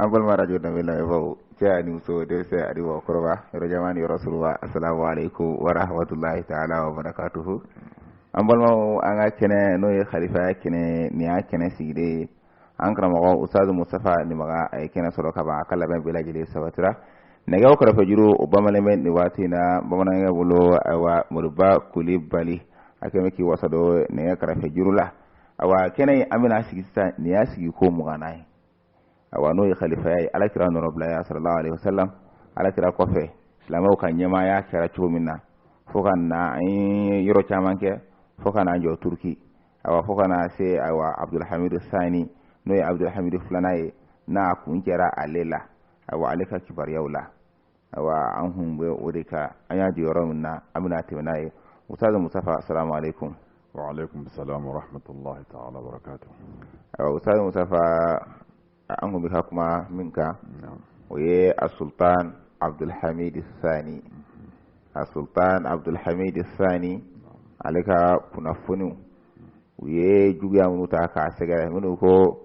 an balima radio danbe lamɛnbaaw cɛ ani muso denmisɛn ani mɔgɔkɔrɔba yɔrɔ janna ni yɔrɔ surunna asalamu aleykum wa rahmatulahi taala wa barakatuhu an balimaw an ka kɛnɛ n'o ye kalifaya kɛnɛ nin y'a kɛnɛ sigilen ye an karamɔgɔ usutazu musitafa nimaga a ye kɛnɛ sɔrɔ ka ban a ka labɛn bɛɛ lajɛlen sabatira nɛgɛw kɛrɛfɛ juru o bamanen bɛ nin waati in na bamanankɛ bolo ayiwa moriba kulibali a kɛmɛ k'i wasa don nɛgɛ kɛrɛfɛ juru la ayiwa kɛnɛ in an bɛna sigi sisan nin y'a sigiko mugannan ye awa n'o ye kalifaya ye ala kira nɔrɔbilaya salalahu aleyhi wasalam ala kira kɔfɛ silamɛw ka ɲɛmaaya kɛra cogo min na fo ka na an ye yɔrɔ caman kɛ fo ka n'an jɔ turuki awa fo ka na se awa abdulhamidu sani n'o ye abdulhamidu filanan ye n'a kuncɛra ale la awa ale ka kibaruyaw la wa an hun bɛ o de kan an y'a jɔ yɔrɔ min na an bɛna tɛmɛ n'a ye usutazu musitafa asalamu alaikum wa alaikum salam wa rahmatullahi ta'ala wa barakatuh awa usutazu musitafa an kun bɛ ka kuma min kan o ye a sultan abdulhamid sani a sultan abdulhamid sani ale ka kunnafoniw u ye juguya minnu ta k'a sɛgɛrɛ minnu ko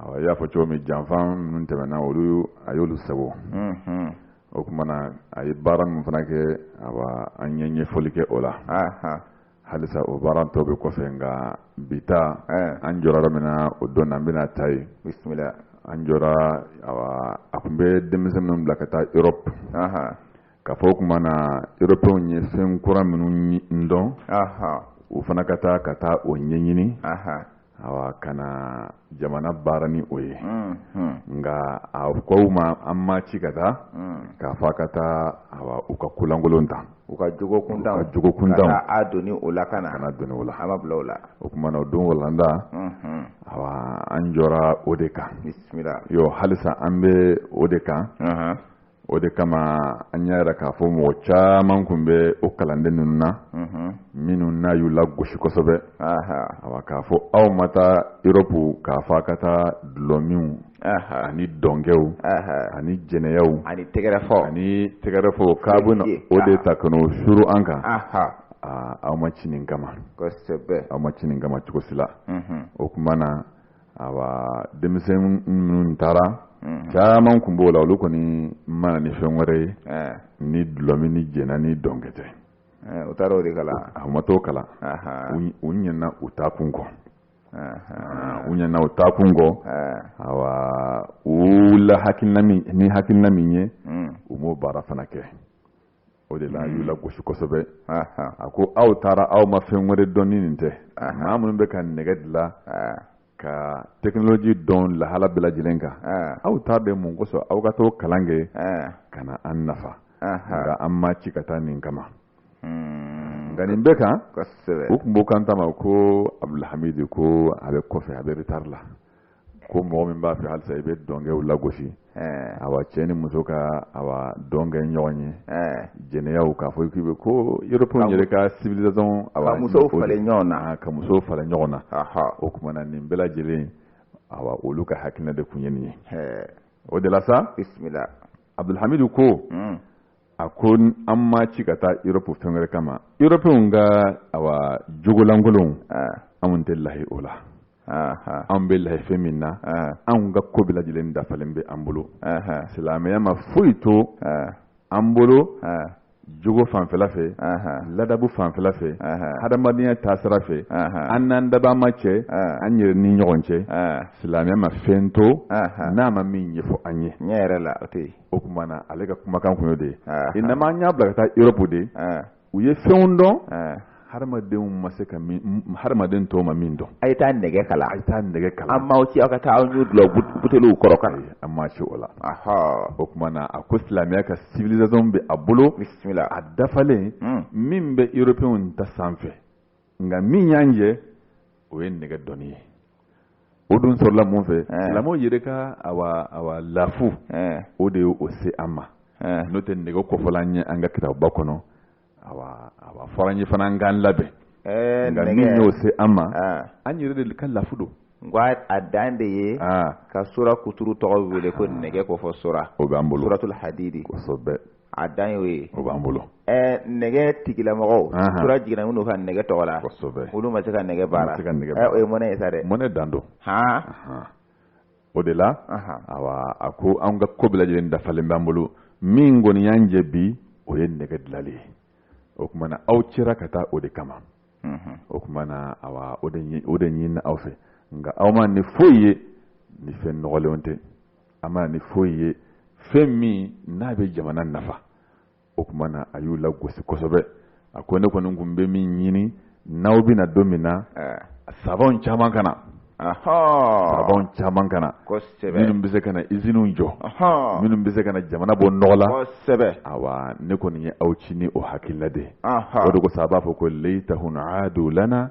I y'a fɔ cogo min janfa minnu tɛmɛna olu a y'olu sago o tuma na a ye baara minnu fana kɛ awa an ye ɲɛfɔli kɛ o la halisa o baara tɔ bɛ kɔfɛ nka bi ta an jɔra yɔrɔ min na o don na an bɛna ta yen an jɔra awa a tun bɛ denmisɛn minnu bila ka taa erɔpu K'a fɔ o tuma na européenw ye fɛn kura minnu dɔn u fana ka taa ka taa o ɲɛɲini ka na jamana baara ni o ye nka a ko u ma an m'a ci ka taa k'a fɔ a ka taa u ka ko lankolon ta u ka jogo kuntan k'a doni o la kana doni o la a ma bila o la o tuma na o don walanda awa an jɔra o de kan halisa an bɛ o de kan o de kama an y'a yira k'a fɔ mɔgɔ caman tun bɛ o kalanden ninnu na minnu n'a y'u lagosi kosɛbɛ awa k'a fɔ aw ma taa erɔpu k'a fɔ a ka taa dulɔminw ani dɔnkɛw ani jɛnɛyaw ani tɛgɛrɛfɔ ani tɛgɛrɛfɔ k'a bɛ na o de ta ka n'o suuru an kan aw ma ci nin kama aw ma ci nin kama cogo si la o tuma na awa denmisɛn minnu taara mhm. caman tun b'o la olu kɔni ma na ni fɛn wɛrɛ ye eh. ni dulɔmi ni jɛna ni dɔnkɛ tɛ eh, u taara o de kalan a ma t'o kalan u ɲinɛna u taakun kɔ u ɲinɛna u taakun kɔ eh. awa u la hakilina min ni hakilina min ye mm. u m'o baara fana kɛ o de la y'u lagosi kosɛbɛ a ko aw taara aw ma fɛn wɛrɛ dɔn ni nin tɛ maa minnu bɛ ka nɛgɛ dilan ka tekinoloji dɔn lahala bɛɛ lajɛlen kan aw taara de mun kosɔn aw ka t'o kalan kɛ ka na an nafa nka an ma ci ka taa nin kama hmm. nka nin bɛɛ kan u tun b'o kan tama ko abdulhamidi ko a bɛ kɔfɛ a bɛ retari la ko mɔgɔ min b'a fɛ halisa i bɛ dɔnkɛw lagosi awa cɛ ni muso ka awa dɔnkɛ ɲɔgɔn ye jɛnɛyaw k'a fɔ k'i bɛ ko yɔrɔpw yɛrɛ ka civilisation ka muso falen ɲɔgɔn na ka muso falen ɲɔgɔn na o tuma na nin bɛɛ lajɛlen awa olu ka hakilina de tun ye nin ye o de la sa bisimila abudulhamidu ko hmm. a ko an ma ci ka taa yɔrɔp fɛn wɛrɛ kama yɔrɔpw ka awa jogo lankolon anw tɛ layi o la an bɛ layi fɛn min na anw ka ko bɛɛ lajɛlen dafalen bɛ an bolo silamɛya ma foyi to an bolo jogo fanfɛla fɛ ladabu fanfɛla fɛ hadamadenya taasira fɛ an n'an dabaa ma cɛ an yɛrɛ ni ɲɔgɔn cɛ silamɛya ma fɛn to n'a ma min ɲɛfɔ an ye tiɲɛ yɛrɛ la o tɛ yen o tuma na ale ka kumakan kun y'o de ye inama an y'a bila ka taa yɔrɔbu de u ye fɛnw dɔn hadamadenw ma se ka hadamaden tɔw ma min dɔn a ye taa nɛgɛ kalan a ye taa nɛgɛ kalan an m'aw ci aw ka taa aw ɲun dulɔ buteliw kɔrɔ ka na an ma ci o la o tuma na a ko silamɛya ka civilisation bɛ a bolo bisimila a dafalen min bɛ européenw ta sanfɛ nka min y'an jɛ o ye nɛgɛ dɔnni ye o dun sɔrɔla mun fɛ silamɛw yɛrɛ ka awa lafu o de ye o se an ma n'o tɛ nɛgɛ kofɔla an ye an ka kitabuba kɔnɔ awa a fɔra an ye fana an k'an labɛn nka min y'o se an ma an yɛrɛ de ka lafu don n ko a dan de ye ka sura kuturu tɔgɔ wele ko nɛgɛ kofɔ sura o b'an bolo suratul hadidi kosɛbɛ a dan y'o ye o b'an bolo ɛɛ nɛgɛ tigilamɔgɔw Ahan. sura jiginna minnu kan nɛgɛ tɔgɔ la kosɛbɛ olu ma se ka nɛgɛ baara Ma se ka nɛgɛ Ɛ, baara. o ye mɔnɛ ye sa dɛ mɔnɛ dan don han Ahan. o de la Ahan. awa a ko an ka ko bɛɛ lajɛlen dafalen b'an bolo min kɔni y'an jɛ bi o ye nɛgɛ dilali ye o tuma na aw cira ka taa o de kama Mhm. o tuma na awa o de ɲi- o de ɲinina aw fɛ nka aw ma ni foyi ye ni fɛn nɔgɔlenw tɛ a ma ni foyi ye fɛn min n'a bɛ jamana nafa o tuma na a y'u lagosi kosɛbɛ a ko ne kɔni tun bɛ min ɲini n'aw bɛna don min na savantw caman ka na savantw caman ka na minnu bɛ se ka na iziniw jɔ minnu bɛ se ka na jamana bɔ nɔgɔ la awa ne kɔni ye aw ci ni o hakilina de o de ko sa a b'a fɔ ko laytahum lana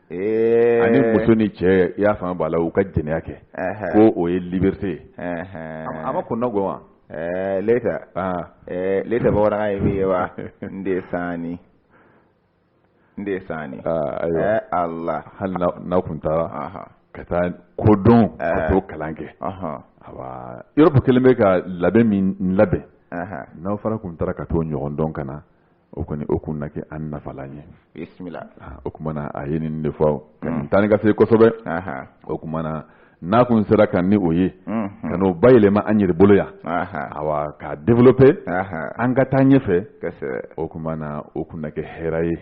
Ee ani muso ni cɛ i y'a faamu b'a la u ka jɛnɛya kɛ ɛhɛn, ko o ye liberté ye ɛhɛn. a ma kunnago wa Ɛɛ, leta Aa. ɛɛ, leta bamanankan ye min ye wa n de saani n de saani Aa, ayiwa. ɛɛ ala hali n'a- n'a kun taara Aha. ka taa kodɔn ka Ɛɛ. t'o kalan kɛ Aha. awa Europe kelen bɛ ka labɛn min labɛn Aha. n'aw fana kun taara ka t'o ɲɔgɔn dɔn ka na o kɔni o kun na kɛ an nafalan ye bisimila o kuma na a ye nin de fɔ mm. tan ni ka se kosɛbɛ o kuma na n'a kun sera ka ni o ye mm-hmm. ka n'o bayɛlɛma an yɛrɛ bolo yan awa k'a développer an ka taa ɲɛfɛ o kuma na o kun na kɛ hɛrɛ ye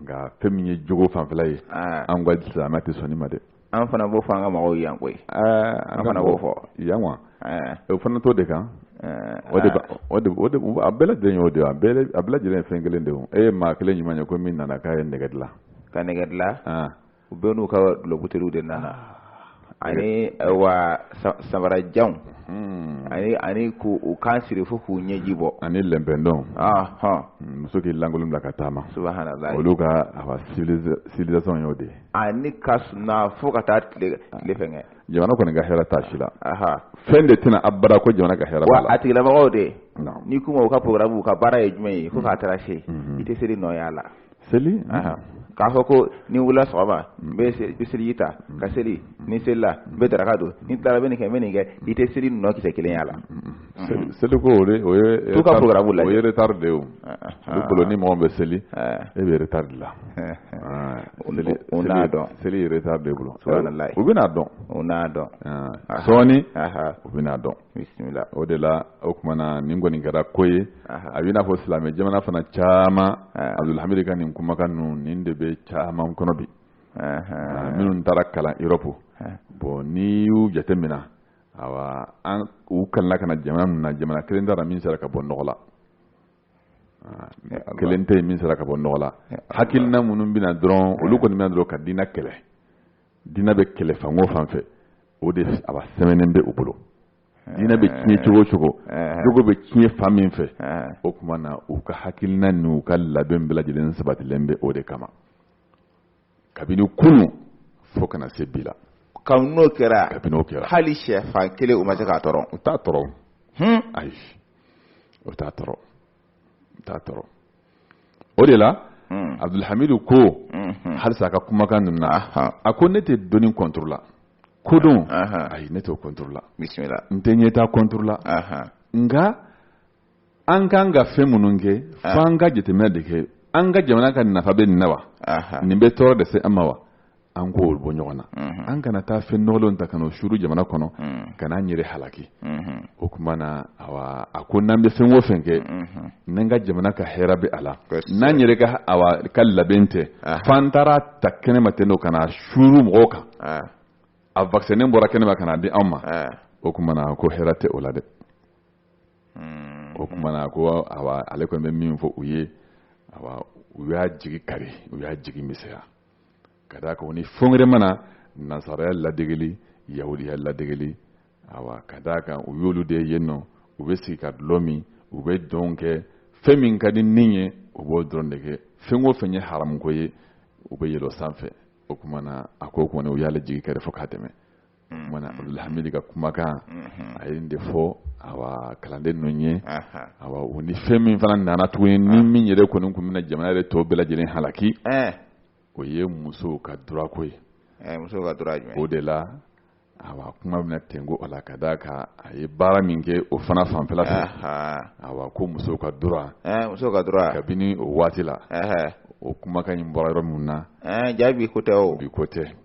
nka fɛn min ye jogo fanfɛla ye an ka silamɛya tɛ sɔn nin ma dɛ an fana b'o fɔ an ka mɔgɔw yan koyi an fana b'o fɔ yan wa o fana t'o de kan o de o de o de a bɛɛ lajɛlen y'o de a bɛɛ a bɛɛ lajɛlen ye fɛn kelen de ye e ye maa kelen ɲuman ye ko min nana k'a ye nɛgɛ dilan ka nɛgɛ dilan u bɛɛ n'u ka dulɔbuteeliw de nana ani wa samarajanw ani ani ko u kan siri fo k'u ɲɛji bɔ ani lɛnpɛndɔn muso k'i lankolon bila ka taama subahanalayi olu ka civilisation y'o de ye ani ka sunaa fo ka taa tile tile fɛngɛ jamana kɔni ka hɛrɛ t'a si la fɛn de tɛna abada ko jamana ka hɛrɛ b'a la a tigilamɔgɔw de n'i k'u ma u ka programme u ka baara ye jumɛn ye fo k'a taara se i tɛ seli nɔ y'a la seli k'a fɔ ko ni wulila sɔgɔma n bɛ seliji ta ka seli ni selila n bɛ daraka don ni tilara bɛ nin kɛ n bɛ nin kɛ i tɛ seli nɔ kisɛ kelen y'a la seli ko o o ye t'u ka programme la dɛ o ye retard de ye olu bolo ni mɔgɔ bɛ seli e bɛ retard la u n'a dɔn seli ye retard de bolo subahanalayi u bɛn'a dɔn u n'a dɔn sɔɔni u bɛn'a dɔn bisimila o de la o kuma na nin kɔni kɛra ko ye a b'i n'a fɔ silamɛ jamana fana caman Abdulhamid ka nin kumakan ninnu nin de bɛ caman kɔnɔ bi minnu taara kalan Europe bon n'i y'u jateminɛ awa an u kalanna ka na jamana min na jamana kelen t'a la min sera ka bɔ nɔgɔ la kelen tɛ min sera ka bɔ nɔgɔ la hakilina minnu bɛna dɔrɔn olu kɔni bɛna dɔrɔn ka diinɛ kɛlɛ diinɛ bɛ kɛlɛ fan o fan fɛ o de a b'a sɛmɛnen bɛ u bolo diinɛ bɛ tiɲɛ cogo o cogo jogo bɛ tiɲɛ fan min fɛ o kuma na u ka hakilina n'u ka labɛn bɛɛ lajɛlen sabatilen bɛ o de kama kabini kunun fo ka na se bi la kabini n'o kɛra kabini n'o kɛra hali sɛfan kelen u ma se k'a tɔrɔ u t'a tɔrɔ ayi u t'a tɔrɔ o de la abdulhamidu ko halisa a ka kumakan ninnu na a ko ne tɛ dɔnni contre la kodɔn ayi ne t'o contre la n tɛ ɲɛtaa contre la nka an kan ka fɛn minnu kɛ fo an ka jateminɛ de kɛ an ka jamana ka nafa bɛ nin na wa nin bɛ tɔɔrɔ de se an ma wa an k'o bɔ ɲɔgɔn na an kana taa fɛn nɔgɔlen ta ka n'o suuru jamana kɔnɔ ka n'an yɛrɛ halaki o tuma na a ko n'an bɛ fɛn o fɛn kɛ n'an ka jamana ka hɛrɛ bɛ a la n'an yɛrɛ ka labɛn tɛ f'an taara ta kɛnɛ ma ten o ka na suuru mɔgɔw kan a vaccin nin bɔra kɛnɛ ma ka na di an ma o tuma na ko hɛrɛ tɛ o la dɛ o tuma na ko ale kɔni bɛ min fɔ u ye u y'a jigi kari u y'a jigi misɛnya ka d'a kan u ni fɛn wɛrɛ ma na nasaraya ladegeli yahudiya ladegeli awa ka d'a kan u y'olu de ye yen nɔ u bɛ sigi ka dulɔ min u bɛ dɔn kɛ fɛn min ka di ni ye u b'o dɔrɔn de kɛ fɛn o fɛn ye haramuko ye u bɛ yɛlɛ o sanfɛ o tuma na a ko kɔni u y'ale jigi kari fo k'a tɛmɛ o tuma na abdulhamid ka kumakan a ye nin de fɔ awa kalanden ninnu ye awa u ni fɛn min fana nana tuguni ni min yɛrɛ kɔni tun bɛna jamana yɛrɛ tɔ bɛɛ lajɛlen halaki o ye musow ka durako ye o de la awa kuma bɛna tengu o la ka d'a kan a ye baara min kɛ o fana fanfɛla awa ko musow ka dura kabini o waati la o kumakan nin bɔra yɔrɔ min na jaa bi ko tɛ bi ko tɛ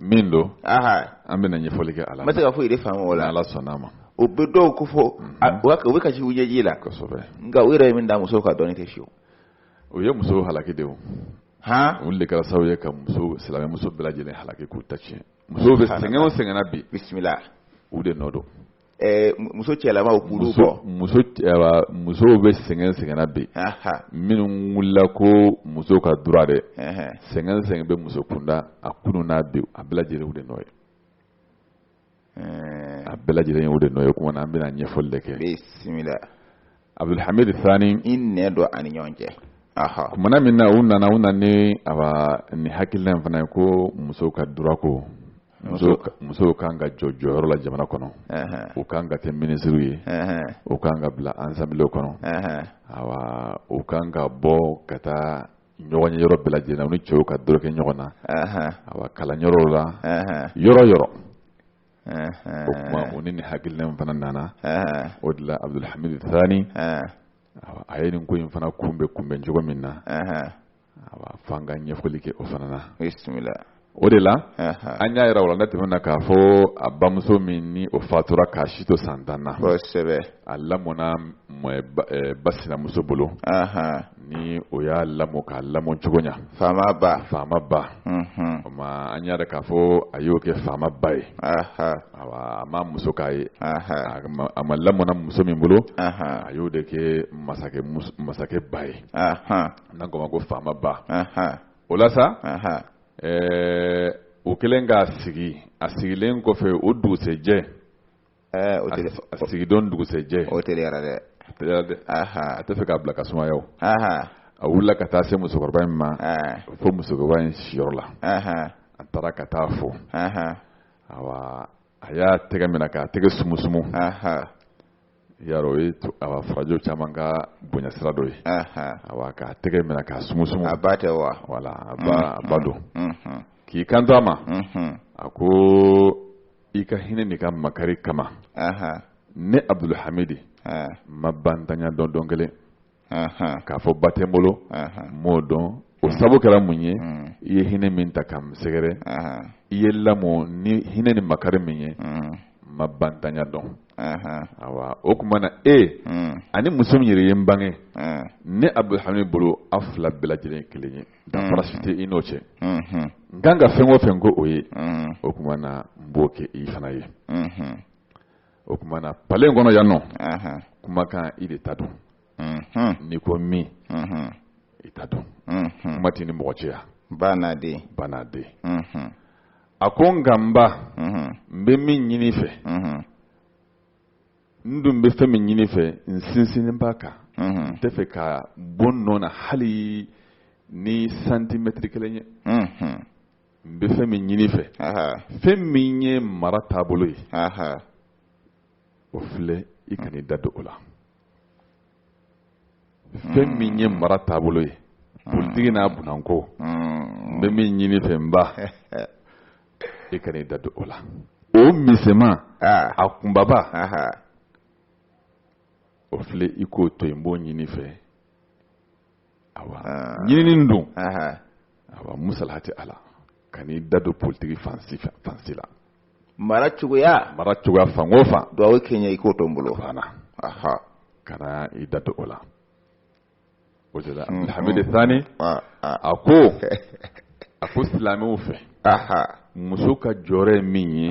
min don an bɛna ɲɛfɔli kɛ ala ma se ka foyi de faamu o la ala sɔnna ma o bɛ dɔw ko fɔ u bɛ kasi ɲɛji la kosɛbɛ nka u yɛrɛ ye min da musow kan dɔɔnin tɛ fewu u ye musow halaki de o han olu de kɛra sababu ye ka muso silamɛ muso bɛɛ lajɛlen halaki k'u ta tiɲɛ musow bɛ sɛgɛn o sɛgɛn na bi bisimila u de nɔ don muso cɛlamaw musow bɛ sɛgɛn o sɛgɛn na bi minnu wulila ko muso ka dura dɛ sɛgɛn o sɛgɛn bɛ muso kunda a kunu n'a bi a bɛɛ lajɛlen u de nɔ ye a bɛɛ lajɛlen ye u de nɔ ye o tuma na an bɛna ɲɛfɔli de kɛ abdulhamid thani i nɛ dɔ ani ɲɔgɔn cɛ kumana min na u nana u nana ni awa ni hakilila in fana ye ko musow ka durako musow kan ka jɔ jɔyɔrɔ la jamana kɔnɔ u kan ka kɛ minisiriw ye u kan ka bila assemblée kɔnɔ awa u kan ka bɔ ka taa ɲɔgɔnyeyɔrɔ bɛɛ lajɛlen na u ni cɛw ka dorogo ɲɔgɔn na awa kalanyɔrɔw la yɔrɔ yɔrɔ o kuma u ni nin hakilina in fana nana o de la abudulhamid thani a ye nin ko in fana kunbɛn kunbɛn cogo min na awa f'an ka ɲɛfɔli kɛ o fana na o de la an y'a yira wala ne tɛmɛna k'a fɔ a bamuso min ni o fatura k'a si to san tan na a lamɔna ba sinamuso bolo ni o y'a lamɔ k'a lamɔ cogo ɲɛ faama ba faama ba o ma an y'a yira k'a fɔ a y'o kɛ faama ba ye awa a ma muso k'a ye a ma lamɔna muso min bolo a y'o de kɛ masakɛ masakɛ ba ye n'an k'o ma ko faama ba o la sa o kɛlen k'a sigi a sigilen kɔfɛ o dugusɛjɛ ɛɛ o tɛ a sigidon dugusɛjɛ o teliyara dɛ a teliyara dɛ a tɛ fɛ k'a bila ka sumaya o a wulila ka taa se musokɔrɔba in ma fo musokɔrɔba in siyɔrɔ la a taara ka taa fo awa a y'a tɛgɛ minɛ k'a tɛgɛ sumusumu yarɔ o ye awa farajɛ caman ka bonya sira dɔ ye awa k'a tɛgɛ minɛ k'a sumusumu a ba tɛ wa wala a ba a ba don k'i kanto a ma a ko i ka hinɛ n'i ka makari kama ne abudulhamidi ma bantanya dɔn dɔn kelen k'a fɔ ba tɛ n bolo m'o dɔn o sabu kɛra mun ye mm. i ye hinɛ min ta ka n sɛgɛrɛ i ye lamɔ ni hinɛ ni makari min ye mm. ma bantanya dɔn awa o tuma na e mm. ani muso min yɛrɛ ye n bange ne abudulhamidi bolo aw fila bɛɛ lajɛlen kelen ye danfara si tɛ i n'o cɛ n ka kan ka fɛn o fɛn k'o ye o tuma na n b'o kɛ i fana ye o tuma na palɛ in kɔnɔ yan nɔ kumakan i de ta don n'i ko min i ta don kuma t'i ni mɔgɔ cɛ a banna dɛ banna dɛ a ko n nka n ba n bɛ min ɲini fɛ n dun bɛ fɛn min ɲini fɛ n sinsinnen b'a kan n tɛ fɛ ka bɔ n nɔ na hali ni santimɛtiri kelen ye n bɛ fɛn min ɲini fɛ fɛn min ye mara taabolo ye o filɛ i kan'i da don o la fɛn min ye mara taabolo ye politigi n'a bunanko n bɛ min ɲini fɛ n ba i kan'i da don o la o misɛman a kunbaba o filɛ i k'o to yen n b'o ɲini fɛ awa ɲinini in dun awa musalaha t'a la kan'i da don politiki fan si fan si la mara cogoya mara cogoya fan o fan duwawu kɛ n ye i k'o to n bolo kana i da don o la o de la abdulhamidi sani ah, ah. a ko a ko silamɛw fɛ muso ka jɔyɔrɔ ye min ye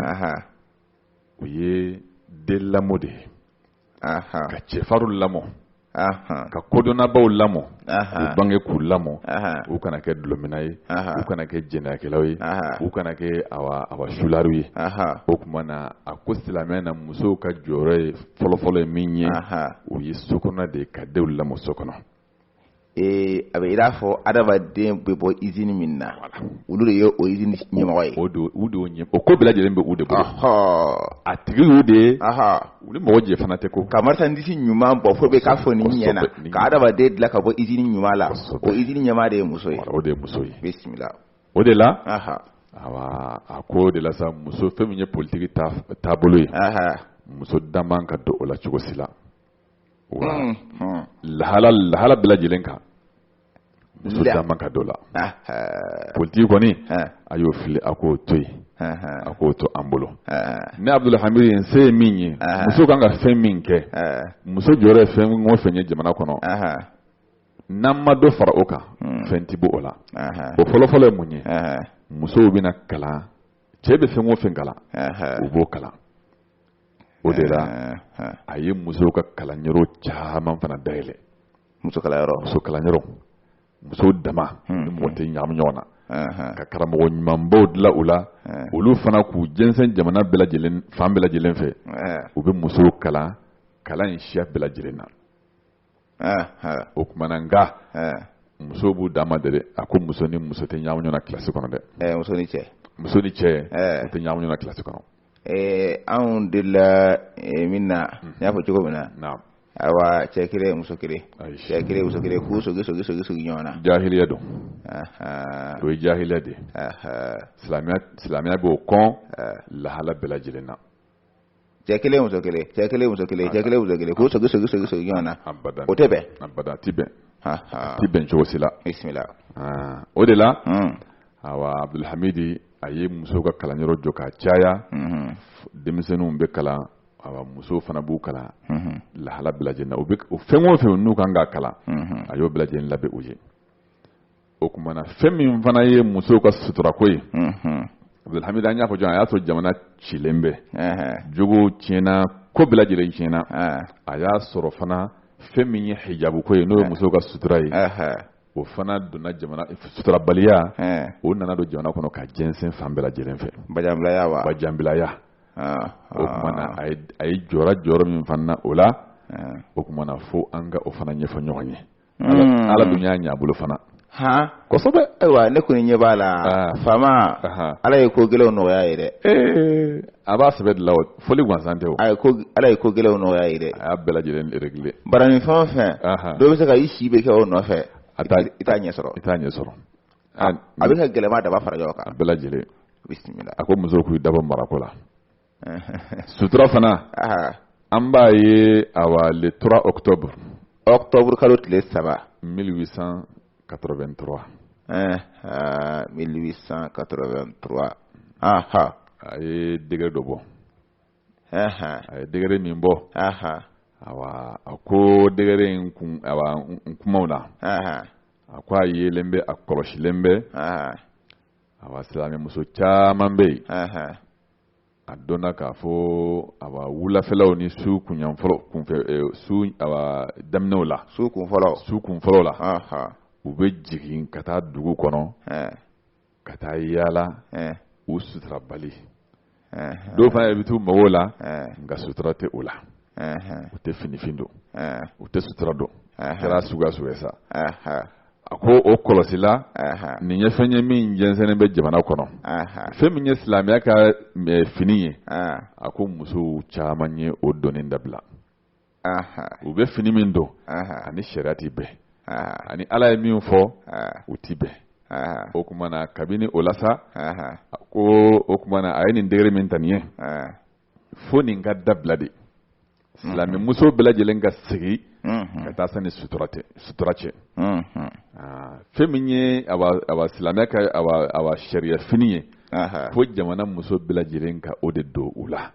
o ye den lamɔ de ye ka cɛfarinw lamɔ ka kodɔnnabaw lamɔ u bange k'u lamɔ u kana kɛ dulɔminna ye u kana kɛ jɛnɛyakɛlaw ye u kana kɛ awa sulariw ye o kumana a ko silamɛya na musow ka jɔyɔrɔ ye fɔlɔfɔlɔ ye min ye o ye so kɔnɔ de ye ka denw lamɔ so kɔnɔ ee a bɛ i n'a fɔ adamaden bɛ bɔ izini min na olu de ye o izini ɲɛmɔgɔ ye o don u don ɲɛ o ko bɛɛ lajɛlen bɛ u de bolo a tigi y'u de ye u ni mɔgɔ jɛ fana tɛ ko ka marisandisi ɲuman bɔ fo bɛɛ k'a fɔ nin ɲɛna ka adamaden dilan ka bɔ izini ɲuman la o izini ɲɛmaa de ye muso ye o de ye muso ye bisimila o de la a ko o de la sa muso fɛn min ye politigi taabolo ye muso da man ka don o la cogo si la awa lahala bɛɛ lajɛlen kan muso da man ka don o la politigi kɔni a y'o fili a k'o to yen a k'o to an bolo ne Abdulhamidi ye n se ye min ye muso kan ka fɛn min kɛ muso jɔyɔrɔ ye fɛn o fɛn ye jamana kɔnɔ. n'an ma dɔ fara o kan hmm. fɛn tɛ bɔ o la o fɔlɔfɔlɔ ye mun ye musow bɛna kalan cɛ bɛ fɛn o fɛn kalan u b'o kalan o de la a ye musow ka kalanyɔrɔ caman fana dayɛlɛ muso kalanyɔrɔ muso kalanyɔrɔ musow dama de mɔgɔ tɛ ɲagami ɲɔgɔn na ka karamɔgɔ ɲumanbaw dilan u la olu fana k'u jɛnsɛn jamana bɛɛ lajɛlen fan bɛɛ lajɛlen fɛ u bɛ musow kalan kalan in siya bɛɛ lajɛlen na o kumana nga musow b'u dama de dɛ a ko muso ni muso tɛ ɲagami ɲɔgɔn na kilasi kɔnɔ dɛ muso ni cɛ muso ni cɛ u tɛ ɲagami ɲɔgɔn na kilasi kɔnɔ anw delila min na n y'a fɔ cogo min na awa cɛ kelen muso kelen cɛ kelen muso kelen k'u sogi sogi sogi sogi ɲɔgɔn na jahiliya don o ye jahiliya de ye silamɛya b'o kɔn lahala bɛɛ lajɛlen na cɛ kelen muso kelen cɛ kelen muso kelen cɛ kelen muso kelen k'u sogi sogi sogi sogi ɲɔgɔn na o tɛ bɛn abada a ti bɛn a ti bɛn cogo si la bisimila o de la awa abdulhamidi a ye muso ka kalanyɔrɔ jɔ k'a caya denmisɛnninw bɛ kalan awa muso fana b'u kalan lahala bɛɛ lajɛlen na o fɛn o fɛn n'u kan k'a kalan a y'o bɛɛ lajɛlen labɛn u ye o kumana fɛn min fana ye musow ka suturako ye abdulhamidi an y'a fɔ jɔn a y'a sɔrɔ jamana cilen bɛ jogo tiɲɛna ko bɛɛ lajɛlen tiɲɛna a y'a sɔrɔ fana fɛn min ye hijabuko ye n'o ye musow ka sutura ye o fana donna jamana suturabaliya o nana don jamana kɔnɔ ka jɛnsɛn fan bɛɛ lajɛlen fɛ bajanbilaya o kumana a ye jɔyɔrɔ jɔyɔrɔ min fana na o la o kumana fo an ka o fana ɲɛfɔ ɲɔgɔn ye hmm. ala dun y'a ɲɛ bolo fana kosɛbɛ ayiwa ne kɔni ɲɛ b'a la ah. faama ala ye ko gɛlɛnw nɔgɔya ye dɛ eh, a b'a sɛbɛ de la o fɔli gansan tɛ o ala ye ko gɛlɛnw nɔgɔya ye dɛ a y'a bɛɛ lajɛlen réglé baaranin fɛn o fɛn dɔ bɛ se ka i si bɛɛ kɛ o nɔfɛ i t'a ɲɛ sɔrɔ i t'a ɲɛ sɔrɔ a bɛ ka gɛlɛma daba fara ɲɔgɔn kan a bɛɛ lajɛlen bisimila a ko musow k'u dabɔ marako la sutura fana an b'a ye a le trois octobre octobre kalo tile saba 1883 1883 aha a ye degere dɔ bɔ a ye degere min bɔ awa a ko degere in kumaw na a ko a yelen bɛ a kɔlɔsilen bɛ awa silamɛmuso caman bɛ yen a dɔnna k'a fɔ awa wulafɛlaw ni su kunyanfɔlɔ kunfɛ eh, su awa daminɛw la su kunfɔlɔw la u bɛ jigin ka taa dugu kɔnɔ ka taa yaala u suturabali dɔw fana yɛrɛ bɛ t'u mago la nka sutura tɛ o la u tɛ finifin don u tɛ sutura don kɛra suguya sugu sa a ko o kɔlɔsila nin ye fɛn ye min jɛnsɛnnen bɛ jamana kɔnɔ fɛn min ye silamɛya ka fini ye a ko musow caman ye o donni dabila u bɛ fini min don ani sariya tɛ bɛn ani ala ye min fɔ u tɛ bɛn o kumana kabini o la sa a ko o kumana a ye nin degere min ta nin ye fo nin ka dabila de silamɛ muso bɛɛ lajɛlen ka segin ka taa sani sutura cɛ fɛn min ye a silamɛya ka a sariya fini ye fo jamana muso bɛɛ lajɛlen ka o de don u la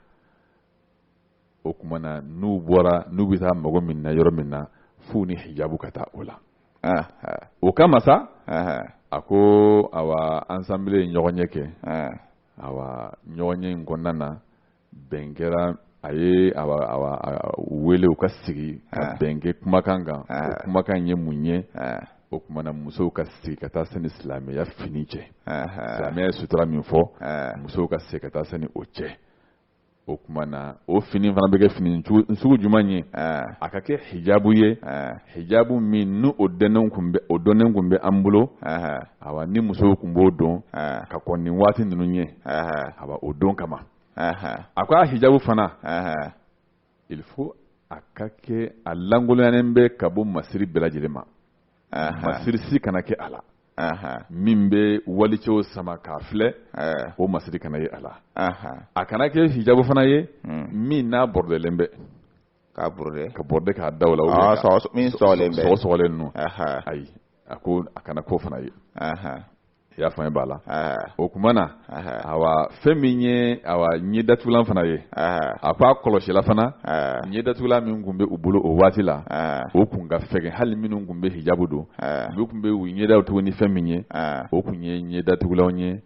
o kumana n'u bɔra n'u bɛ taa mago min na yɔrɔ min na f'u ni hijabu ka taa o la o kama sa a ko ayiwa assemblée ye ɲɔgɔnye kɛ awa ɲɔgɔnye in kɔnɔna na bɛn kɛra a ye wele u ka sigi ka ah. bɛn kɛ kumakan kan o ah. kumakan ye mun ye ah. o kumana musow ka segin ka taa se ni silamɛya fini cɛ silamɛya ye sutura min fɔ musow ka segin ka taa se ni o cɛ o kumana o fini fana bɛ kɛ fini sugu jumɛn ye a ka kɛ hijabu ye hijabu min ni o dɔnnen kun bɛ o dɔnnen kun bɛ an bolo a ni musow kun b'o don ka kɔn nin waati ninnu ɲɛ a o don kama a ko a hijabu fana il faut a ka kɛ a lankoloyanen bɛ ka bɔ masiri bɛɛ lajɛlen ma masiri si kana kɛ a la min bɛ walicɛw sama k'a filɛ o masiri kana ye a la a kana kɛ hijabu fana ye hmm. min n'a bɔrɔdɛlen bɛ k'a bɔrɔdɛ k'a da o la ah, min sɔgɔsɔgɔlen ninnu ayi a ko a kana k'o fana ye i y'a faamuya b'a la o tuma na awa fɛn min ye awa ɲɛ datugulan fana ye a ko a kɔlɔsila fana ɲɛ datugulan min tun bɛ u bolo o waati la o tun ka fɛgɛn hali minnu tun bɛ hijabu don olu tun bɛ u ɲɛdaw tugu ni fɛn min ye o tun ye ɲɛ datugulanw ye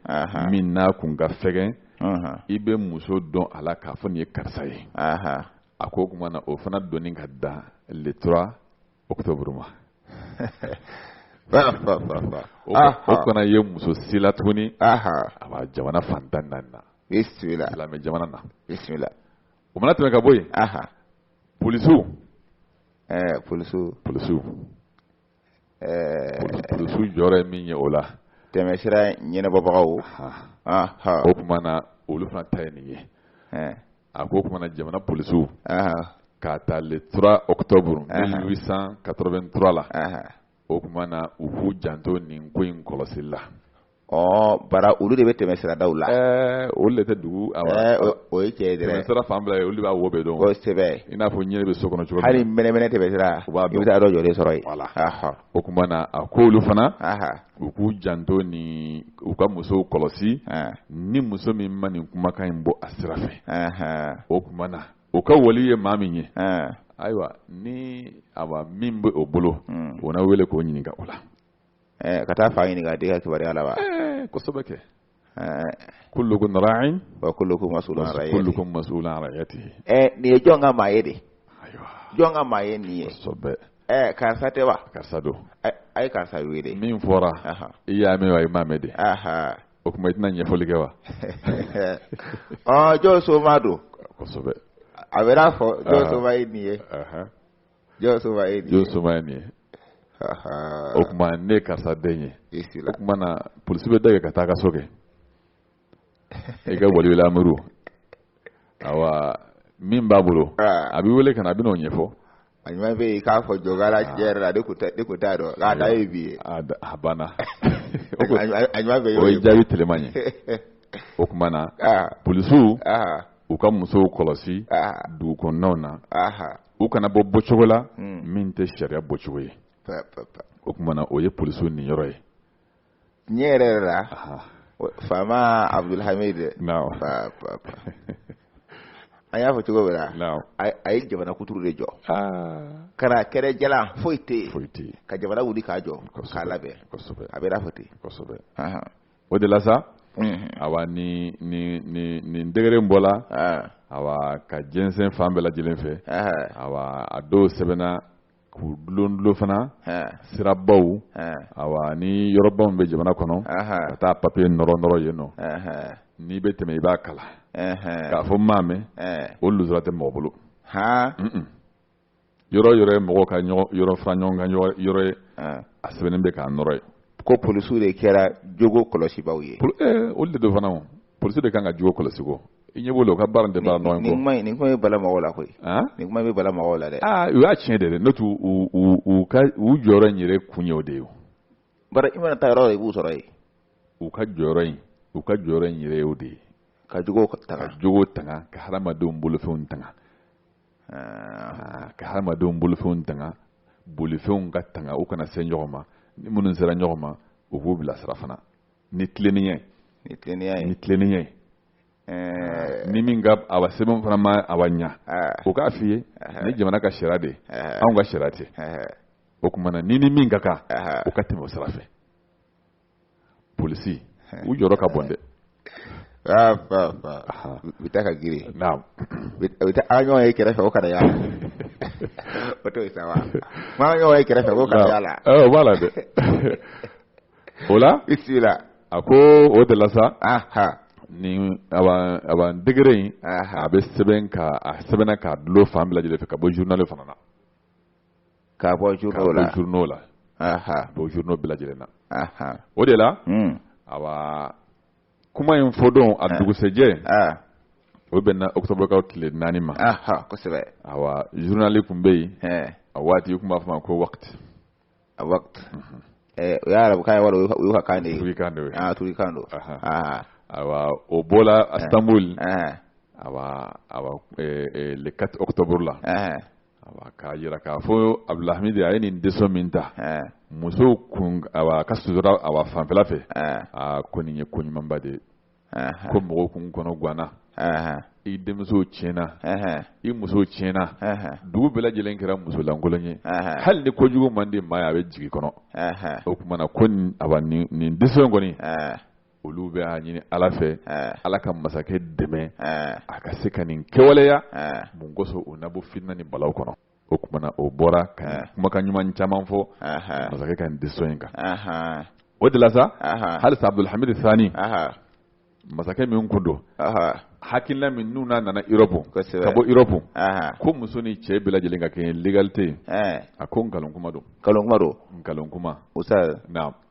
min n'a tun ka fɛgɛn i bɛ muso dɔn a la k'a fɔ nin ye karisa ye a ko o tuma na o fana donni ka dan le trois octobre ma o kana ye muso si la tuguni awa jamana fan tan ni naani na silamɛ jamana na o mana tɛmɛ ka bɔ yen polisiw polisiw polisiw polisiw jɔyɔrɔ ye min ye o la tɛmɛsira ɲɛnabɔbagaw o tuma na olu fana ta ye nin ye a ko o tuma na jamana polisiw k'a ta le 3 octobre 1883 la o tuma na u k'u janto nin ko in kɔlɔsili la ɔ bara olu de bɛ tɛmɛ siradaw la ɛɛ olu de tɛ dugu o ye cɛ ye dɛ tɛmɛ sira fan bila ye olu de b'a wo bɛɛ dɔn kosɛbɛ i n'a fɔ ɲinɛ bɛ so kɔnɔ cogo hali mɛnɛmɛnɛ tɛmɛ sira u b'a dɔn i bɛ taa dɔ jɔlen sɔrɔ yen voilà o tuma na a k'olu fana u k'u janto ni u ka musow kɔlɔsi ni muso min ma nin kumakan in bɔ a sira fɛ o tuma na o ka wali ye maa min ye ayiwa ni awa min bɛ o bolo hmm. o na wele k'o ɲininka o la ka taa fa ɲininka a den ka kibaruya la wa kosɛbɛ kɛ kullukum ra'in wa kullukum mas'ulun an ra'iyatihi kullukum mas'ulun an ra'iyatihi ɛ nin ye jɔn ka maa ye de ayiwa jɔn ka maa ye nin ye kosɛbɛ ɛ karisa tɛ wa karisa don a a ye karisa wele min fɔra Aha. i y'a mɛn wa i m'a mɛn de aha o tuma i tɛna ɲɛfɔli kɛ wa ɔ jɔn somaa don kosɛbɛ a bɛn'a fɔ jɔn Aha. somaa ye nin ye Aha. jɔn somaa ye nin ye o tuma ne ye karisa den ye o tuma na polisi bɛ dɛgɛ ka taa ka so kɛ i ka waliyul amuru awa min b'a bolo a bɛ wele ka na a bɛn'o ɲɛfɔ a ɲuman bɛ yen k'a fɔ jɔgara cɛn yɛrɛ la ne kun t'a dɔn k'a dan ye bi ye a banna a ɲuman bɛ yen o ye jaabi telema ye o tuma na polisiw u ka musow kɔlɔsi dugu kɔnɔnaw na u kana bɔ bɔcogo la hmm. min tɛ sariya bɔcogo ye o tumana o ye polisiw niyɔrɔ ye ɲɛ yɛrɛ yɛrɛ la faama abdulhamid an y'a fɔ cogo bɛɛ la a ye jamana kuturu de jɔ ah. kana kɛrɛ jala foyi tɛ yen ka jamana wuli k'a jɔ k'a labɛn a bɛ fɔ ten o de la sa awa ni nin degere in bɔla awa ka jɛnsɛn fan bɛɛ lajɛlen fɛ awa a dɔw sɛbɛnna k'u dulondulon fana sirabaw awa ni yɔrɔbaw bɛ jamana kɔnɔ ka taa papiye nɔrɔnɔrɔ yen nɔ n'i bɛ tɛmɛ i b'a kalan k'a fɔ n m'a mɛn o lujura tɛ mɔgɔ bolo yɔrɔ yɔrɔ ye mɔgɔ ka yɔrɔ fara ɲɔgɔn kan yɔrɔ ye a sɛbɛnnen bɛ k'a nɔrɔ yen ko polisiw de kɛra jogo kɔlɔsibaaw ye eh, olu de don fana o polisiw de kan ka jogo kɔlɔsi ko i ɲɛ b'o la u ka baara de b'a nɔ nin kuma nin kuma bɛ bala mɔgɔw la koyi nin kuma bɛ bala mɔgɔw la dɛ aa u y'a tiɲɛ de dɛ n'o tɛ u u u ka u jɔyɔrɔ in yɛrɛ kun ye o de ye o bari i mana taa yɔrɔ i b'u sɔrɔ yen u ka jɔyɔrɔ in u ka jɔyɔrɔ in yɛrɛ ye o de ye ka jogo tanga ka jogo tanga ka hadamadenw bolofɛnw tanga ah, ka hadamadenw bolofɛnw tanga bolifɛnw ka tanga u kana se ɲɔgɔn ma ni minnu sera ɲɔgɔn ma u k'u bilasira fana ni tilennenya ye ni tilennenya ye ni tilennenya ye eh. ni min ka awa sɛbɛn fana ma awa ɲa eh. o k'a f'i ye eh. nin jamana ka sariya de ye anw ka sariya tɛ o tuma na ni ni min ka kan o ka tɛmɛ o sira fɛ polisi u jɔyɔrɔ ka bon dɛ ah, u bɛ taa ka girin u bɛ taa an ɲɔgɔn ye kɛrɛfɛ o kana y'a la o t'o ye sa wa an ɲɔgɔn ye kɛrɛfɛ o kana y'a la eh, o b'a la dɛ o la i sigi la a ko o de la sa nin a b'an degere in a bɛ sɛbɛn ka a sɛbɛnna k'a dulon fan bɛɛ lajɛlen fɛ ka bɔ journal fana na k'a bɔ journaux la, k'a bɔ journaux la, aha, bɔ journaux bɛɛ lajɛlen na, aha, o de la, un, awa, kuma in fɔ don a dugusɛjɛ, ah, o bɛnna octobre kalo tile naani ma, aha, kosɛbɛ, awa, journal tun bɛ yen, ɛɛ, a waati u tun b'a fɔ ma ko wakati, a wakati, mhm. ɛɛ, o ye arabukan ye wala o y'u ka kan de ye, turikan de ye, ah, turikan don, aha, awa, o bɔla Istanbul, ɛɛ, awa, awa, ɛɛ, le 4 octobre la, ɛɛ. k'a yira k'a fɔ abudulhamidi a ye nin décision min ta musow kun awa ka sutura awa fanfɛla fɛ aa ko nin ye ko ɲumanba de ye ko mɔgɔw kun kɔnɔ ganna i denmuso tiɲɛna i muso tiɲɛna dugu bɛɛ lajɛlen kɛra musolankolon ye hali ni kojugu man di maa ye a bɛ jigin kɔnɔ o tumana ko awa nin décision kɔni olu bɛ a ɲini ala fɛ ala ka masakɛ dɛmɛ a ka se ka nin kɛwaleya mun kosɔn o na bɔ fitna ni balaw kɔnɔ o kuma na o bɔra ka kumakan ɲuman caman fɔ masakɛ ka nin décision in kan o de la sa halisa abdulhamid sani masakɛ min kun don hakilila min n'u n'a nana Europe ka bɔ Europe ko muso ni cɛ bɛɛ lajɛlen ka kɛ l'égalité a ko nkalon kuma don nkalon kuma don nkalon kuma o sa naam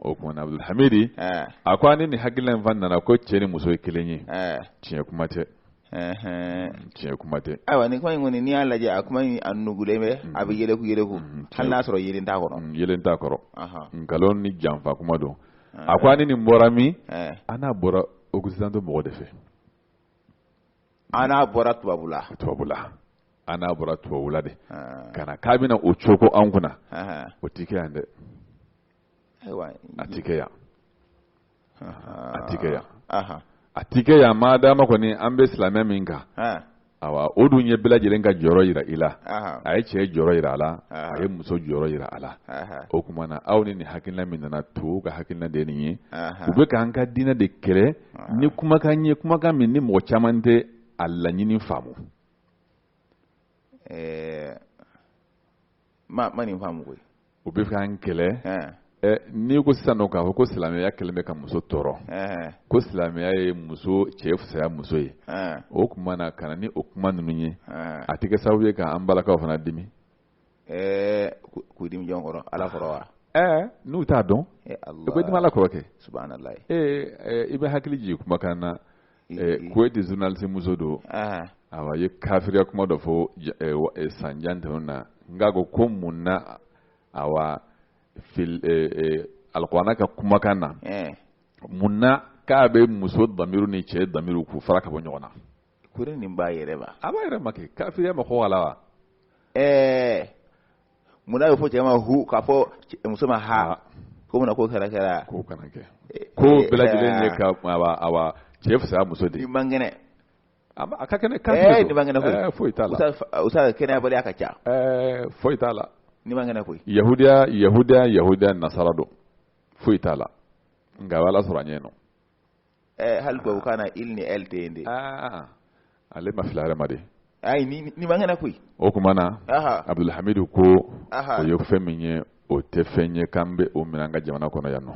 o kuma na abudulhamidi a ko an ni nin hakilina in fan nana ko cɛ ni muso ye kelen ye tiɲɛ kuma tɛ tiɲɛ kuma tɛ ayiwa ni kuma in kɔni n'i y'a lajɛ a kuma in a nugulen bɛ a bɛ yɛlɛku yɛlɛku hali n'a sɔrɔ yelen t'a kɔrɔ yelen t'a kɔrɔ nkalon ni janfa kuma don a ko an ni nin bɔra min an n'a bɔra occidentaux mɔgɔ de fɛ an n'a bɔra tubabula tubabula an n'a bɔra tubabula de ka na k'a bin o cogo an kunna o tɛ kɛ yan dɛ a ti kɛ yan a ti kɛ yan a ti kɛ yan maa dama kɔni an bɛ silamɛya min kan awa o dun ye bɛɛ lajɛlen ka jɔyɔrɔ yira i la a ye cɛ jɔyɔrɔ yira a la a ye muso jɔyɔrɔ yira a la o tuma na aw ni nin hakilina min nana to ka hakilina de ye nin ye u bɛ k'an ka diinɛ de kɛlɛ ni kumakan ye kumakan min ni mɔgɔ caman tɛ a laɲini faamu a ma nin faamu koyi u bɛ k'an kɛlɛ ɛɛ ɛ n'i ko sisan nɔ k'a fɔ ko silamɛya kɛlen bɛ ka muso tɔɔrɔ ɛɛ ko silamɛya ye muso cɛ fisaya muso ye ɛɛ o tuma na ka na ni o kuma ninnu ye ɛɛ a tɛ kɛ sababu ye k'an balakaw fana dimi ɛɛ ku- k'u dimi jɔn kɔrɔ ala kɔrɔ wa ɛɛ n'u t'a dɔn ee u bɛ dimi ala kɔrɔ kɛ subhanalayi ee ɛ, i bɛ hakili jigin kumakan na kuwaiti journaliste muso dɔ awa ye kafiriya kuma dɔ fɔ san jan tɛmɛnen na n k'a ko ko mun na awa alikuranɛ ka kumakan na mun na k'a bɛ muso damiru ni cɛ damiru k'u fara ka bɔ ɲɔgɔn na kori nin b'a yɛrɛ ma a b'a yɛrɛ ma kɛ kafiriya ma kɔgɔ a la wa ɛɛ mun na y'a fɔ cɛ ma hu k'a fɔ muso ma ha ah. ko mun na k'o kɛra kɛra k'o kana kɛ eh, ko eh, bɛɛ lajɛlen ye eh, ka awa awa cɛ fisaya muso de ye ni man kɛnɛ a ka kɛnɛ kan ɛɛ ni man kɛnɛ koyi ɛɛ foyi t'a la o sa kɛnɛyabaliya ka ca ɛɛ foyi t'a la ni man kɛnɛ koyi yahudiya yahudiya yahudiya nasara don foyi t'a la nka ala sɔrɔ a ɲɛ nɔ eh, hali tubabu kan na il ni elle tɛ yen de ah, ale ma fili yɛrɛ ma de ayi ni ni man kɛnɛ koyi o tuma na abdulhamidu ko o ye fɛn min ye o tɛ fɛn ye k'an bɛ o minɛ an ka jamana kɔnɔ yan nɔ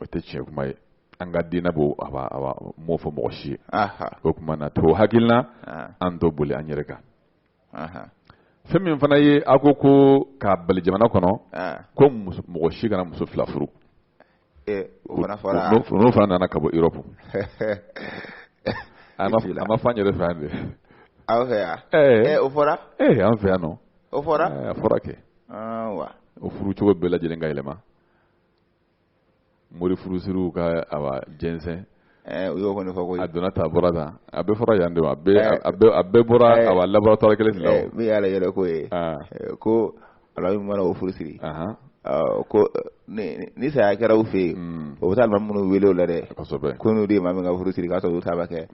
o tɛ tiɲɛ kuma ye an ka diinɛ b'o awa m'o fɔ mɔgɔ si ye o tuma na t'o hakilina an t'o boli an yɛrɛ kan fɛn min fana ye a ko ko k'a bali jamana kɔnɔ ko mɔgɔ si kana muso fila furu n'o fana nana ka bɔ Europe a ma fɔ an yɛrɛ fɛ yan de aw fɛ yan o fɔra ee an fɛ yan nɔ o fɔra a fɔra kɛ o furu cogo bɛɛ lajɛlen ka yɛlɛma mori furusiriw ka awa jɛnsɛn eh, u y'o kɔni fɔ ko a donna tan bɔra tan a bɛɛ fɔra yan de wa a bɛɛ eh. a bɛɛ a bɛɛ bɔra eh. awa laboratoire kelen de la o min y'ale yɛrɛ ko ye ah. ko alimami mana o furu siri ko ni saya kɛra u fɛ yen hmm. o bɛ taa alimami minnu wele o la dɛ ko n'u de ye maa min ka furu siri k'a sɔrɔ olu t'a ba kɛ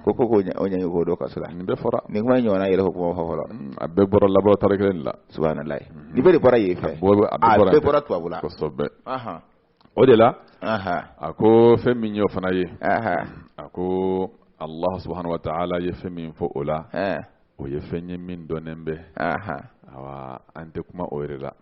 ko ko k'o ɲangi k'o don kaso la nin bɛɛ fɔra nin kuma in ɲɔgɔnna yɛrɛ ko kuma fɔ fɔlɔ hmm, a bɛɛ bɔra laboratoire kelen de la subhanallah nin bɛɛ de bɔra yen fɛ a bɛɛ bɔra tubabu la kosɛbɛ o de la a ko fɛn min y'o fana ye a ko allah subhanahu wa ta'ala ye fɛn min fɔ o la o ye fɛn ye min dɔnnen bɛ awa an tɛ kuma o yɛrɛ la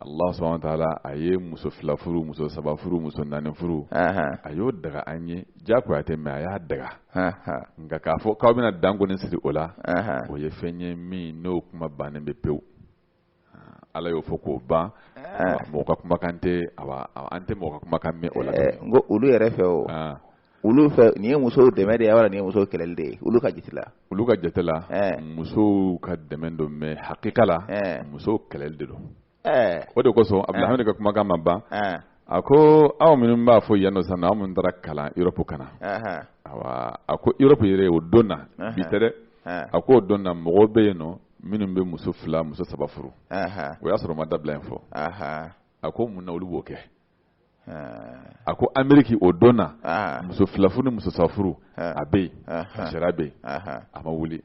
Allah subhanahu wa ta'ala a ye muso fila furu, muso saba furu, muso naani furu, anhan, a y'o daga an ye jagoya tɛ mais a y'a daga, anhan, nka k'a fɔ k'aw bɛna dan kɔni siri o la, anhan, o ye fɛn ye min n'o kuma bannen bɛ pewu, Ala y'o fɔ k'o ban, mɔgɔ ka kumakan tɛ, awa, an tɛ mɔgɔ ka kumakan mɛn o la, ɛɛ, n ko olu yɛrɛ fɛ o. olu fɛ nin ye musow dɛmɛ de ye wala nin ye musow kɛlɛli de ye olu ka jate la olu ka jate la eh. musow ka dɛmɛ don mais hakika la eh. musow kɛlɛli de don eh. o de kosɔn abdulhamid ka kumakan ma ban a ko aw minnu b'a fɔ yan nɔ sisan aw minnu taara kalan Europe ka na awa a ko Europe yɛrɛ o don na bi tɛ dɛ a ko o don na mɔgɔw bɛ yen nɔ minnu bɛ muso fila muso saba furu o y'a sɔrɔ ma dabila in fɔ a ko mun na olu b'o kɛ a ko ameriki o don na muso filafuru ni muso sabafuru a bɛ yen a sariya bɛ yen a ma wuli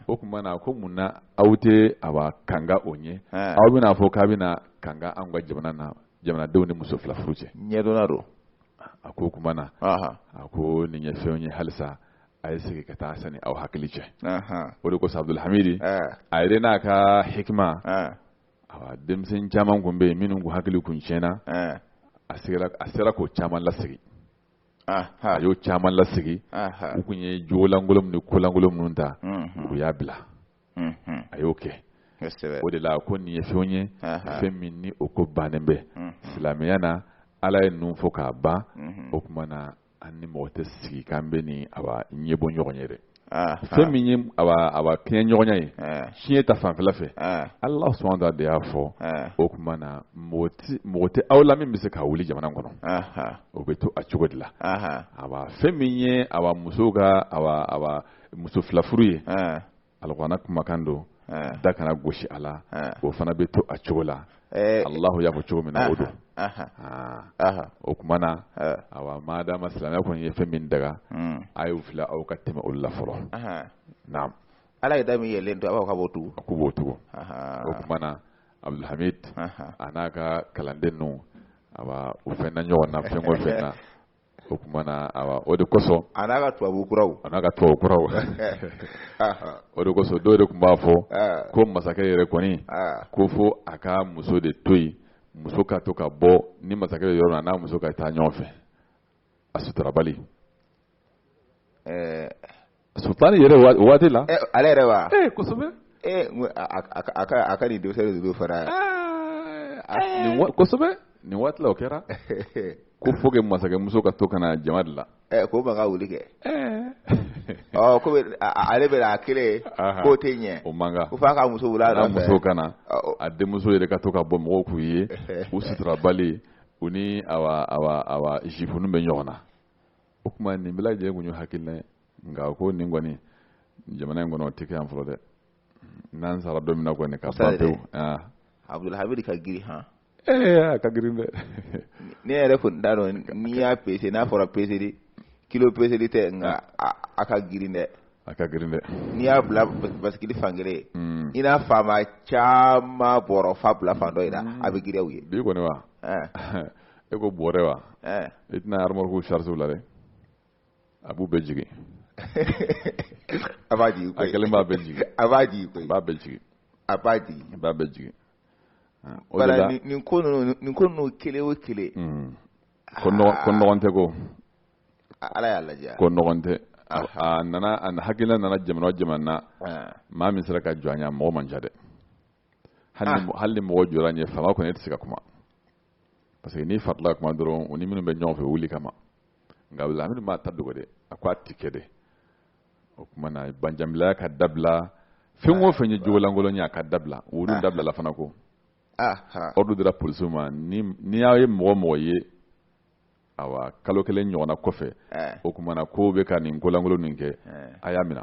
o tuma na ko mun na aw tɛ awa kanga o ɲɛ aw bɛna fɔ k'a bɛna kanga an ka jamana na jamanadenw ni muso filafuru cɛ ɲɛdɔnna don a ko o tuma na a ko nin ye fɛnw ye halisa a ye segin ka taa sani aw hakili cɛ o de kosɔn abdulhamidi a yɛrɛ n'a ka hikima Awa denmisɛn caman kun bɛ yen minnu kun hakili kun tiɲɛna ɛɛ a sigera a sera k'o caman lasegin anhan a y'o caman lasegin anhan u kun ye jogo lankolon min ni ko lankolon minnu ta unhun u y'a bila unhun a y'o kɛ kosɛbɛ o de la ko nin ye fɛnw ye anhan fɛn min ni o ko bannen bɛ unhun silamɛya na Ala ye ninnu fɔ k'a ban unhun o tuma na an ni mɔgɔ tɛ sigi k'an bɛ nin awa ɲɛ bɔ ɲɔgɔn ye yɛrɛ fɛn min ye awa kɛɲɛɲɔgɔnya ye ciɲɛ ta fanfɛla fɛ allah subhanahu wa ta'ala de y'a fɔ o tuma na mɔgɔ tɛ aw la min bɛ se k'a wuli jamana kɔnɔ o bɛ to a cogo de la awa fɛn min ye awa muso ka awa muso filafuru ye alikuranɛ kumakan don da kana gosi a la o fana bɛ to a cogo la alahu y'a fɔ cogo min na o don o kuma na awa madama silamɛya kɔni ye fɛn min daga a y'u fila aw ka tɛmɛ olu la fɔlɔ naam ala ye da min yɛlɛlen to aw ka b'o tugu k'u b'o tugu o kuma na abdulhamid a n'a ka kalanden ninnu awa u fɛn na ɲɔgɔn na fɛn o fɛn na o kuma na awa o de kosɔn a n'a ka tubabu kuraw o de kosɔn dɔw de tun b'a fɔ ko masakɛ yɛrɛ kɔni ko fo a ka muso de to yen muso ka to ka bɔ ni masakɛ bɛ yɔrɔ min na a n'a muso ka taa ɲɔgɔn fɛ a suturabali Sultan yɛrɛ o waati la, ɛ ale yɛrɛ wa, ee kosɛbɛ, ee n ko a ka a ka nin denmisɛn ninnu fara, ɛɛ kosɛbɛ nin waati la o kɛra ko faut que masakɛmuso ka to ka na jama de la, ɛ ko man ka wuli kɛ, ɛɛ ɔ komi ale bɛ a kelen k'o tɛ ɲɛ, o man kan, ko f'a ka muso wuli a nɔfɛ, a muso ka na, a denmuso yɛrɛ ka to ka bɔ mɔgɔw k'u ye u suturabali u ni awa awa awa juif ninnu bɛ ɲɔgɔn na o kuma nin bɛɛ lajɛlen kun ye hakilina ye nka a ko nin kɔni jamana in kɔnɔ o tɛ kɛ yan fɔlɔ dɛ n'an sara don min na kɔni ka ban pewu abudulhamid ka girin han ee a ka girin dɛ ne yɛrɛ kun t'a dɔn n'i y'a pese n'a fɔra peseli kilo peseli tɛ nka a ka girin dɛ a ka girin dɛ n'i y'a bila basikili fan kelen ye hmm. i na faama caman bɔrɔ fa bila fan dɔ in na a bɛ girin u ye bi kɔni wa e ko bɔrɛ wa i tɛna remorque chargé u la dɛ a b'u bɛɛ jigin a b'a jigin a kelen b'a bɛɛ jigin a b'a jigin koyi a b'a bɛɛ jigin a b'a jigin a b'a bɛɛ jigin o de la nin ko ninnu nin ko ninnu kelen o kelen hmm. ko nɔgɔn tɛ ko ala y'a lajɛ ko nɔgɔn tɛ a nana a hakilina nana jamana o jamana na ah. maa min sera ka jɔ a ɲɛ mɔgɔ man ca dɛ hali ni ah. mɔgɔ jɔra a ɲɛ faama kɔni e tɛ se ka kuma parce que n'i faratila ka kuma dɔrɔn u ni minnu bɛ ɲɔgɔn fɛ wuli i kama nka hamid m'a ta dogo dɛ a ko a ti kɛ dɛ o kuma na banjanbilaya ka dabila fɛn o fɛn ye jogo lankolon ye a ka dabila olu ah. dabilala fana ko ah, ah. ordre dira polisiw ma ni aw ye mɔgɔ o mɔgɔ ye awa kalo kelen ɲɔgɔnna kɔfɛ eh. o kuma na k'o bɛ ka nin ko lankolon nin kɛ eh. a y'a minɛ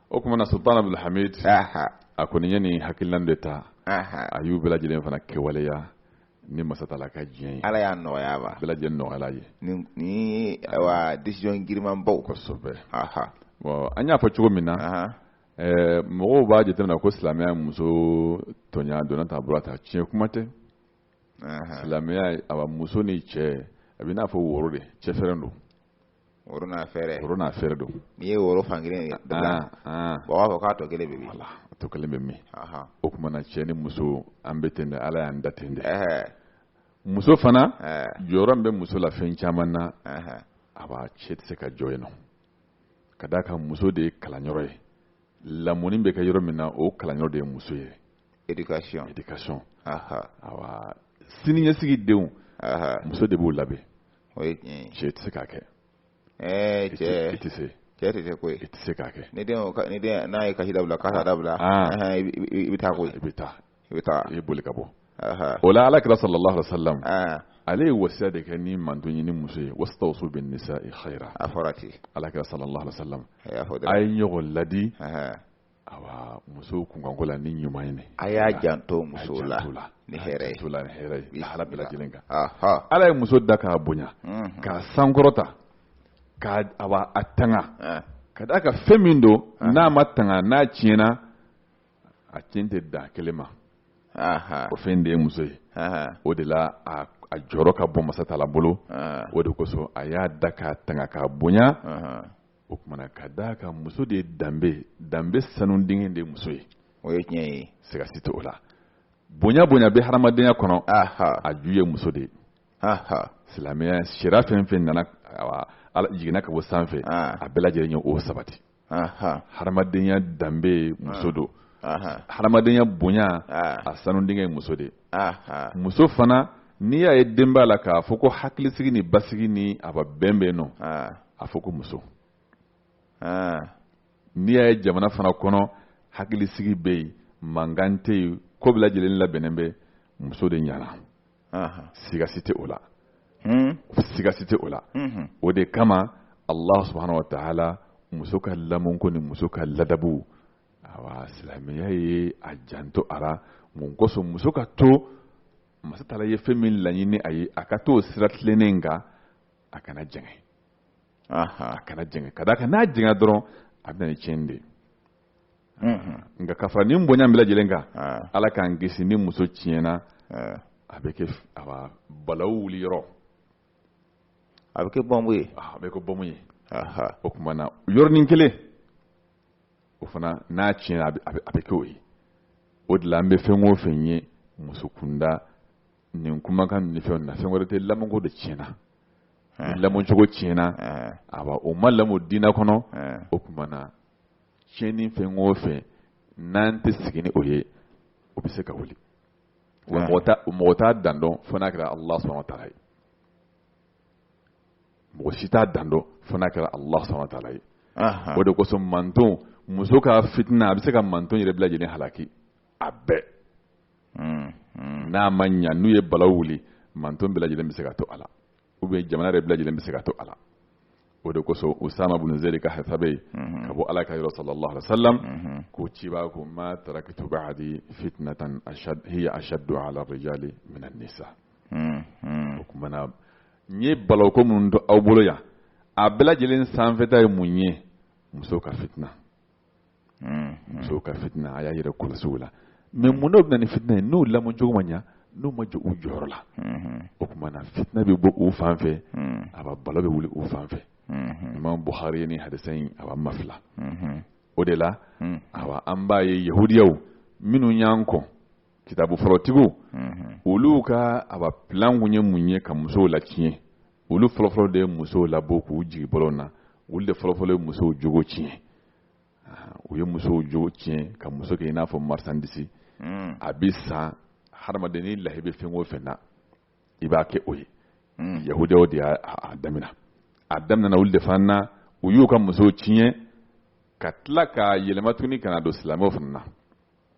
o kuma na sultan abdulhamid a kɔni ye nin hakilina de ta a y'u bɛɛ lajɛlen fana kɛwaleya ni masa taala ka diɲɛ ye ala y'a nɔgɔya wa bɛɛ lajɛlen nɔgɔyala a ye ni wa decision girimanbaw kosɛbɛ bon an y'a fɔ cogo min na eh, mɔgɔw b'a jateminɛ ko silamɛya ye muso tɔɲa donna ta bɔra ta tiɲɛ kuma tɛ silamɛya ye awa muso ni cɛ a b'i n'a fɔ woro de cɛ fɛrɛn don woro n'a fɛrɛn woro n'a fɛrɛn don n'i ye woro fan kelen ye ah, ah. o b'a fɔ k'a tɔ kelen bɛ min wala a tɔ kelen bɛ min o tuma na cɛ ni muso an bɛ ten de ala y'an da ten de muso fana jɔyɔrɔ min bɛ muso la fɛn caman na awa cɛ tɛ se ka jɔ yen nɔ ka d'a kan muso de ye kalanyɔrɔ ye lamɔni bɛ kɛ yɔrɔ min na o kalanyɔrɔ de ye muso ye éducation éducation awa siniɲɛsigi denw muso de b'u labɛn o ye tiɲɛ ye cɛ tɛ se k'a kɛ ɛɛ cɛ i tɛ se cɛ tɛ se koyi i tɛ se k'a kɛ ni den ni den n'a ye kasi dabila kasi dabila i bɛ taa koyi i bɛ taa i bɛ taa i bɛ boli ka bɔ o la ala kira sallallahu alaihi wa sallam ale ye wasiya de kɛ nin mantɔn ye ni muso ye wastawsu binnisa'i khayra a fɔra ten ala kira sallallahu alaihi wa sallam a ye ɲɔgɔn ladi awa muso kunkanko la ni ɲuman ɲini a y'a janto muso la ni hɛrɛ ye a bɛɛ lajɛlen kan ala ye muso da k'a bonya k'a sankɔrɔta awa k'a tanga ka d'a kan fɛn min don n'a ma tanga n'a tiɲɛna a tiɲɛ tɛ dan kelen ma o fɛn de ye muso ye o de la a jɔyɔrɔ ka bon masatala bolo o de kosɔn a y'a da k'a tanga k'a bonya o tuma na ka d'a kan muso de ye danbe danbe sanu dingɛ de ye muso ye o ye tiɲɛ ye siga si tɛ o la bonya bonya bɛ hadamadenya kɔnɔ a ju ye muso de ye silamɛya sariya fɛn fɛn nana a jiginna ka bɔ sanfɛ a bɛɛ lajɛlen ye o sabati hadamadenya danbe muso don hadamadenya bonya a sanu dingɛ ye muso de ye muso fana n'i y'a ye denbaya la k'a fɔ ko hakilisigi ni basigi ni awa bɛn bɛ nɔ a fɔ ko muso n'i y'a ye jamana fana kɔnɔ hakilisigi bɛ yen mankan tɛ yen ko bɛɛ lajɛlen labɛnnen bɛ muso de ɲɛna sigasi tɛ o la hmm? sigasi tɛ o la hmm. o de kama Allah subhanahu wa ta'ala muso ka lamɔko ni muso ka ladabu awa silamɛya ye a janto a la mun kosɔn muso ka to masatala ye fɛn min laɲini a ye a ka to o sira tilennen in kan a kana jɛngɛ a kana jɛngɛ ka d'a kan n'a jɛngɛ dɔrɔn a bɛ na ni tiɲɛni de ye nka ka fara nin bonya bɛɛ lajɛlen kan ala k'an kisi ni muso tiɲɛna a bɛ kɛ a bɛ balawu wuli yɔrɔ a bɛ kɛ bɔnbu ye a bɛ kɛ bɔnbu ye o tuma na yɔrɔnin kelen o fana n'a tiɲɛna a bɛ kɛ o ye o de la an bɛ fɛn o fɛn ye muso kunda nin kumakanw ni fɛnw na fɛn wɛrɛ tɛ lamɔko de tiɲɛna lamɔcogo tiɲɛna awa o ma lamɔ diinɛ kɔnɔ o tuma na tiɲɛni fɛn o fɛn n'an tɛ sigi ni o ye o bɛ se ka wuli mɔgɔ t'a dan dɔn fo n'a kɛra Allah subhanahu wa ta'ala ye mɔgɔ si t'a dan dɔn fo n'a kɛra Allah subahana wa taala ye, anhan, o de kosɔn manton muso ka fitina a bɛ se ka manton yɛrɛ bɛɛ lajɛlen halaki a bɛɛ, un, un, n'a ma ɲa n'u ye balawu wuli manton bɛɛ lajɛlen bɛ se ka to a la ou bien jamana yɛrɛ bɛɛ lajɛlen bɛ se ka to a la o de kosɔn Usama bin Zɛdi ka hadisi bɛ yen ka bɔ Ala kira yɔrɔ sallallahu alaihi wa sallam unhun, ko cibaa ko ma tarakitu ba'adi fitnatan hiya ashaddu ala rijali min an-nisa un, un. o kuma na N ye balawu ko minnu to aw bolo yan a bɛɛ lajɛlen sanfɛta ye mun ye musow ka fitina hmm, hmm. musow ka fitina a y'a yɛrɛ kɔlɔsi u la mais mun na u bɛ na ni fitina ye n'u lamɔcogo ma ɲa n'u ma jɔ u jɔyɔrɔ la hmm, o tuma na fitina bɛ bɔ u fan fɛ awa balawu bɛ wuli u fan fɛ imam buhari ni hadisa in a b'a mafila o de la awa an b'a ye yahudiyaw minnu y'an kɔn kitabu fɔlɔtigiw olu ka awa plan kun ye mun ye ka musow latiɲɛ olu fɔlɔfɔlɔ de ye musow labɔ k'u jigi bɔlɔn na olu de fɔlɔfɔlɔ ye musow jogo tiɲɛ u ye musow jogo tiɲɛ ka muso kɛ i n'a fɔ marisandisi a bɛ san hadamaden ni lahi bɛ fɛn o fɛn na i b'a kɛ o ye yahudiyaw de y'a daminɛ a daminɛna olu de fan na u y'u ka musow tiɲɛ ka tila ka yɛlɛma tuguni ka na don silamɛw fana na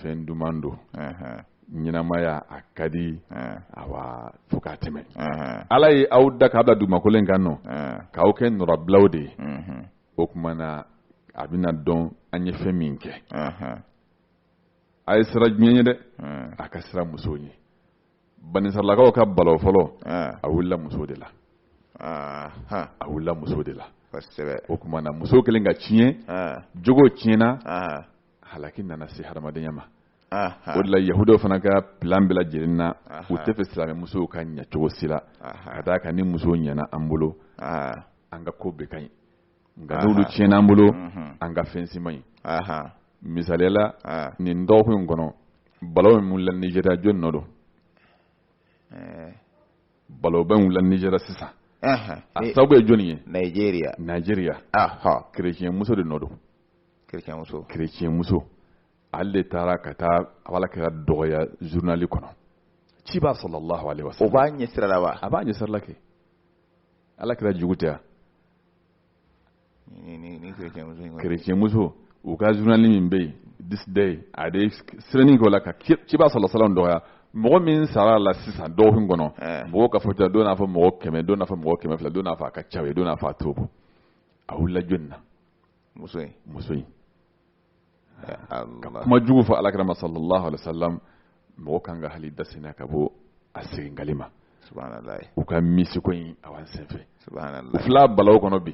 fɛn duman don ɲɛnamaya a ka di awa fo ka tɛmɛ ala ye aw da k'aw bila dugumakolo in kan nɔ k'aw kɛ nɔrɔbilaw de ye o tuma na a bɛna dɔn an ye fɛn min kɛ a ye siran diɲɛ ɲɛ dɛ a ka siran musow ɲɛ banisirayilakaw ka balawu fɔlɔ a wulila muso de la a wulila muso de la o tuma na muso kelen ka tiɲɛ jogo tiɲɛ na halaki nana se hadamadenya ma o de la yahudiyaw fana ka plan bɛɛ lajɛlen na u tɛ fɛ silamɛ musow ka ɲa cogo si la ka d'a kan ni muso ɲana an bolo an ka ko bɛɛ ka ɲi nka n'olu tiɲɛna an bolo mhm. an ka fɛn si man ɲi misaliya la nin dɔgɔkun in kɔnɔ balawu min wulila nizeriya jɔni nɔ don eh. balawuba in wulila nizeriya sisan a sababu ye jɔni ye nizeriya kerecɛn muso de nɔ don kerecɛnmuso ale de taara ka taa ala kira dɔgɔya zurunali kɔnɔ cibaa sallallahu alaihi wa sallam o b'an ɲɛ sira la wa a b'an ɲɛ sira la kɛ ala kira jugu tɛ kerecɛnmuso u ka zurunali min bɛ yen This Day a de sera nin ko la ka cibaa sallallahu alaihi wa sallam dɔgɔya mɔgɔ min sara a la sisan dɔgɔkun kɔnɔ eh. mɔgɔ ka fɔta don n'a fɔ mɔgɔ kɛmɛ don n'a fɔ mɔgɔ kɛmɛ fila don n'a fɔ a ka ca o ye don n'a fɔ a t'o bɔ a wulila jɔni na muso in muso in ka kuma jugu fɔ alakira ma sallallahu alaihi wasallam mɔgɔ kan ka hali dasina ka bɔ a seginkali ma u ka misiko in a b'an senfɛ u fila balawu kɔnɔ bi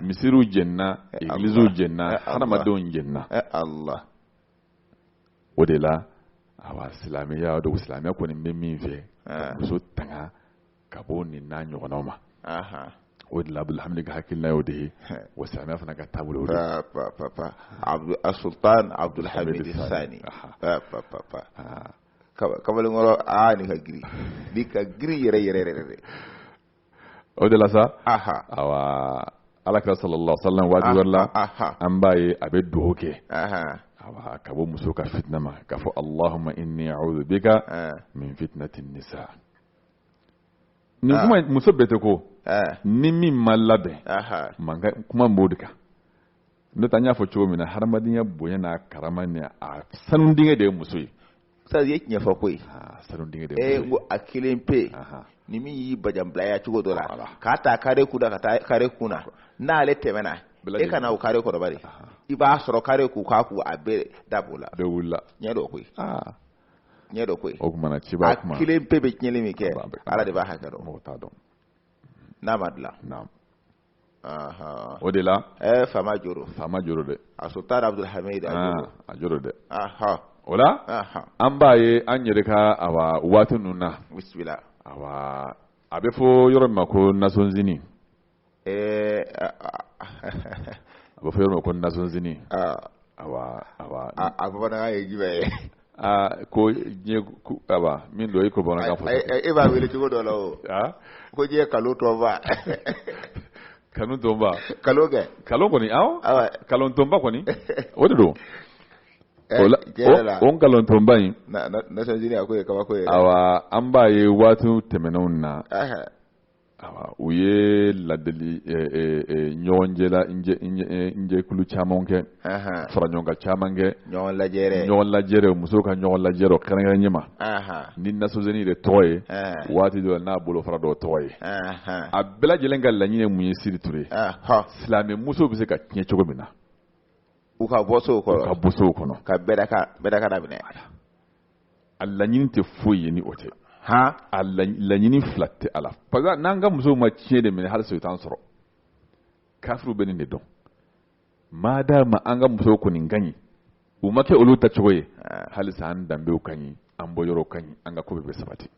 misiriw jenina egiliziw jenina hadamadenw jenina ala o de la awa silamɛya don silamɛya kɔni bɛ min fɛ muso tanga ka bɔ nin n'a ɲɔgɔnna ma o de la abudul hamid ka hakilina y'o de ye wa silamɛ fana ka taabolo asultan abudul hamid saani kamalenkɔrɔ aa nin ka girin nin ka girin yɛrɛ yɛrɛ yɛrɛ dɛ o de la sa ayiwa alakira sallallahu alaihi wasallam waati wɛrɛ la an b'a ye a bɛ dugawu kɛ ka bɔ muso ka fitina ma k'a fɔ allahumma inni a'udhu bika min fitnati nisa nin kuma in muso bɛɛ tɛ ko ɛɛ ni min ma labɛn aha an ka kuma b'o de kan n'o tɛ an y'a fɔ cogo min na hadamadenya bonya n'a karama ni a sanu dingɛ de ye muso ye sadi ye tiɲɛ fɔ koyi aa sanu dingɛ de ye ee n muso ko a kelen pe ye Aha. ni min y'i bajanbilaya cogo dɔ la Voilà. k'a ta kare kun na ka taa kare kun na n'ale tɛmɛna Bɛɛ e kana o kare kɔrɔbari i b'a sɔrɔ kare kun ka kun a bɛɛ dab'o la bɛɛ wulila tiɲɛ don koyi aa tiɲɛ don koyi o kuma na cɛba kuma a kelen pe bɛ tiɲɛni min kɛ ala de b'a hakɛ dɔn mɔgɔ t'a dɔn n'a ma dilan naamu o de la ɛɛ faama jo don faama jo don dɛ asultan abudul hamid a jo don dɛ o la an b'a ye an yɛrɛ ka awa waati ninnu na bisimila awa a bɛ fɔ yɔrɔ min ma ko nasɔnzini eh ba fa yoro kon na son zini awa awa a ba na ye jibe a ko nye ku aba min do iko bona ka fo e ba wele ti go do lo a ko je kalo to ba kanu to ba kalo ke kalo ko ni aw kalo to ba ko ni o de do o kalon to ba yin na na san jini akwai kaba ko awa an ba ye watu temenun na u ye ladeli ɲɔgɔn jɛkulu caman kɛ faraɲɔgɔnkan caman kɛ ɲɔgɔn lajɛrɛ musow ka ɲɔgɔn lajɛrɛ kɛrɛnkɛrɛn ɲɛma ni nasɔnzini de tɔgɔ ye waati dɔ n'a bolofara dɔ tɔgɔ ye a bɛɛ lajɛlen ka laɲini mun ye siri ture silamɛ muso bɛ se ka tiɲɛ cogo min na u ka bɔ so kɔnɔ ka minɛ a laɲini tɛ foyi ye ni o tɛ han a laɲini fila tɛ a la parce que n'an ka musow ma tiɲɛ de minɛ halisa i t'an sɔrɔ kafiriw bɛ nin de dɔn maadaama an ka musow kɔni ka ɲi u ma kɛ olu ta cogo ye halisa an danbew ka ɲi an bɔyɔrɔw ka ɲi an ka ko bɛɛ bɛ sabati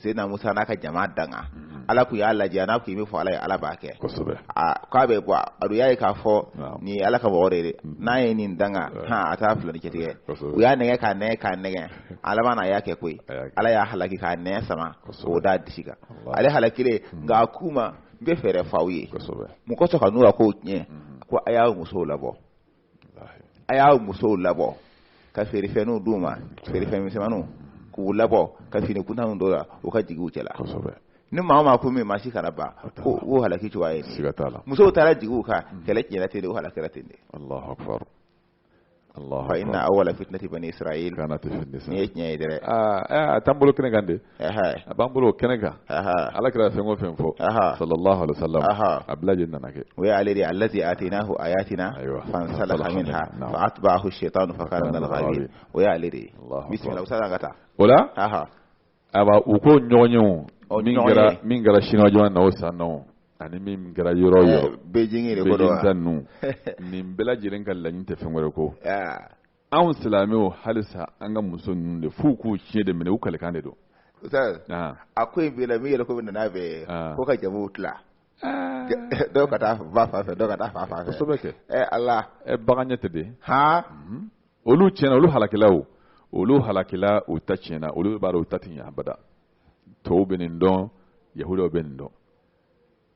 seyidina musa n'a ka jama danga mm-hmm. ala tun y'a lajɛ n'a ka min fɔ ala ye ala b'a kɛ k'a bɛ bɔ adu y'a ye k'a fɔ nin ala ka mɔgɔ de dɛ mm-hmm. n'a ye nin danga hɔn a taa filani cɛtigɛ u y'a nɛgɛ k'a nɛgɛ k'a nɛgɛ a laban na y'a kɛ koyi ala y'a halaki k'a nɛn sama o d'a disi kan ale halakile mm-hmm. nka a k'u ma n bɛ fɛɛrɛ f'aw ye mɔgɔ sɔrɔ ka n'u ka kow tiɲɛ ko a y'aw musow labɔ a y'a musow labɔ ka feerefɛnw d'u ma feerefɛn misɛnmaninw k'u labɔ ka fini kuntanw don u la u ka jigi u cɛla ni maa o maa ko min ma si kana ban ko o halaki cogoya ye siga t'a la musow taara jigi u kan mm. kɛlɛ tiɲɛna ten de o halakira ten de Allahu akbar Allahu akbar fa inna awwala fitnati bani israil kanat fi nisa nin ye tiɲɛ ye dɛ aa a t'an bolo kɛnɛ kan de a b'an bolo o kɛnɛ kan ala kira fɛn o fɛn fɔ sallallahu alaihi wasallam a bɛɛ lajɛlen nana kɛ o ye ale de alladhi atinahu ayatina fansalakha minha fa atba'ahu shaytanu fa kana minal ghawin o ye ale de ye bismillah usa ka taa o la aba o ko ɲɔgɔn ye o min kɛra min kɛra siniwa jamana na o san na o ani min kɛra yɔrɔ yɔrɔ Beijing yɛrɛ ko don wa Beijing ta ninnu nin bɛɛ lajɛlen ka laɲini tɛ fɛn wɛrɛ ko anw silamɛw halisa an ka muso ninnu de f'u k'u tiɲɛ de minɛ u kalikan de don a ko in bɛ la min yɛrɛ ko bɛ nana bɛ ko ka jamuw tila dɔw ka taa ba fan fɛ dɔw ka taa fa fan fɛ kosɛbɛ kɛ ɛ ala baganya tɛ de han mhm. olu tiɲɛna olu halakila o olu halakila u ta tiɲɛna olu b'a dɔn u ta tɛ ɲɛ abada tɔw bɛ nin dɔn yahudaw bɛ nin dɔn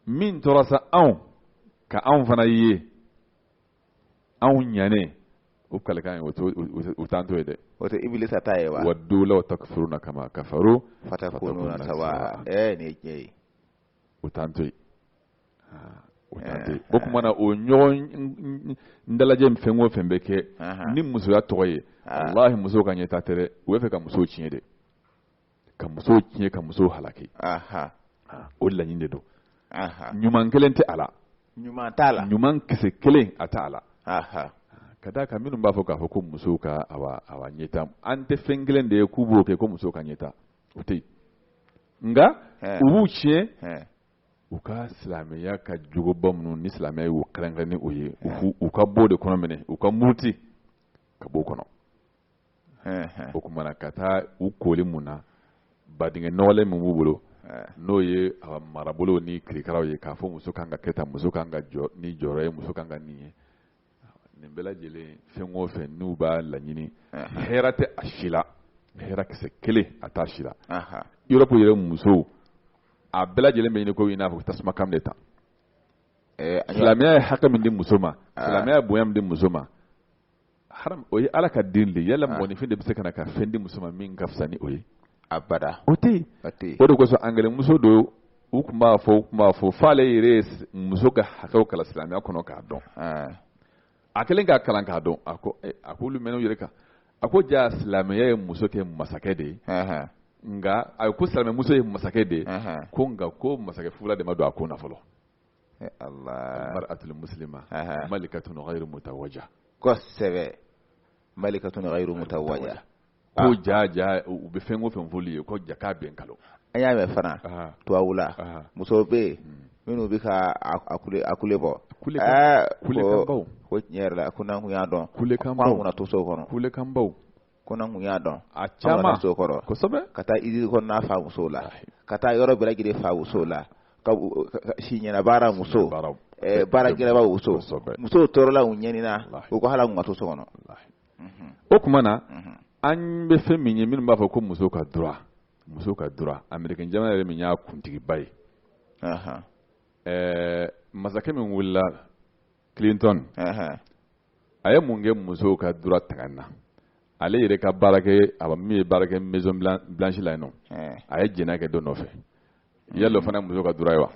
min tora sa anw ka anw fana ye anw ɲanɛ o kalikan ye o t'o- o- o t'an to yen dɛ o tɛ ibilisa ta ye wa waddu law takfuruna kama kafaru fatakununa fatakununa sawa sawa. ɛɛ nin ye tiɲɛ ye o t'an to yen Ah, o t'an to yen o tuma na o ɲɔgɔn n- n- n- n dalajɛ in fɛn o fɛn bɛ kɛ Ahan. ni musoya tɔgɔ ye Ah. walahi musow ka ɲɛtaa tɛ dɛ u bɛ fɛ ka musow tiɲɛ de ka muso tiɲɛ ka muso halaki o laɲini de don ɲuman kelen tɛ a la ɲuman t'a la ɲuman kisɛ kelen a t'a la ka d'a kan minnu b'a fɔ k'a fɔ ko musow ka awa ɲɛtaa an tɛ fɛn kelen de ye k'u b'o kɛ ko musow ka ɲɛtaa o tɛ yen nka u b'u tiɲɛ u ka silamɛya ka jogoba minnu ni silamɛya y'u kɛrɛnkɛrɛn ni o ye u ka b'o de kɔnɔ minɛ u ka muruti ka b'o kɔnɔ o tuma na ka taa u kooli mun na badingɛ nɔgɔlen min b'u bolo n'o ye a marabolo ni kirikaraw ye k'a fɔ muso kan ka kɛ tan muso kan ka jɔ ni jɔyɔrɔ ye muso kan ka nin ye nin bɛɛ lajɛlen fɛn o fɛn n'u b'a laɲini hɛrɛ tɛ a si la hɛrɛ kisɛ kelen a t'a si la Europe yɛrɛ musow a bɛɛ lajɛlen bɛ ɲini ko i n'a fɔ tasuma kami de ta silamɛya ye hakɛ min di muso ma silamɛya bonya min di muso ma haram o ye ala ka dili ye yala mɔgɔninfin de bɛ se ka na ka fɛn di muso ma min ka fisa ni o ye abada o tɛ yen o tɛ yen o de kosɔn angilɛmuso dɔ u tun b'a fɔ u tun b'a fɔ f'ale yɛrɛ ye s- muso ka hakɛw kalan silamɛya kɔnɔ k'a dɔn Ɛɛ, a kɛlen k'a kalan k'a dɔn a ko eh, a k'olu mɛn'u yɛrɛ kan a ko jaa silamɛya ye muso kɛ masakɛ de ye ɛhɛn, nka a ko silamɛmuso ye masakɛ de ye ɛhɛn. ko nka ko masakɛ fugula de ma don a kun na fɔlɔ almar'atul muslima malikatun ghairu mutawajja kosɛbɛ malikatun ghairu mutawajja ko ah. ja ja u bɛ fɛn o fɛn f'olu ye ko ja k'a bɛɛ nkalon an y'a mɛn fana tubabu la musow bɛ yen hmm. minnu bɛ ka a kule a kule bɔ kulekanbaw ko tiɲɛ yɛrɛ la ko n'an kun y'a dɔn kulekanbaw k'an kun na to so kɔnɔ kulekanbaw ko n'an kun y'a dɔn a caman so kɔnɔ kosɛbɛ ka taa izini kɔnɔna fa muso la ka taa yɔrɔ bɛɛ lajɛlen fa muso la ka si ɲɛnabaara muso baara gɛlɛnba muso musow tɔɔrɔla u ɲanina u ko hal'an kun ka to so kɔnɔ o kuma na an bɛ fɛn min ye minnu b'a fɔ ko muso ka droit muso ka droit américain jamana yɛrɛ min y'a kuntigiba ye masakɛ min wulila la clinton a ye mun kɛ musow ka droit tanga na ale yɛrɛ ka baarakɛ a min bɛ baara kɛ maison blanche la yen nɔ a ye jɛnɛya kɛ dɔ nɔfɛ yala o fana ye muso ka droit ye wa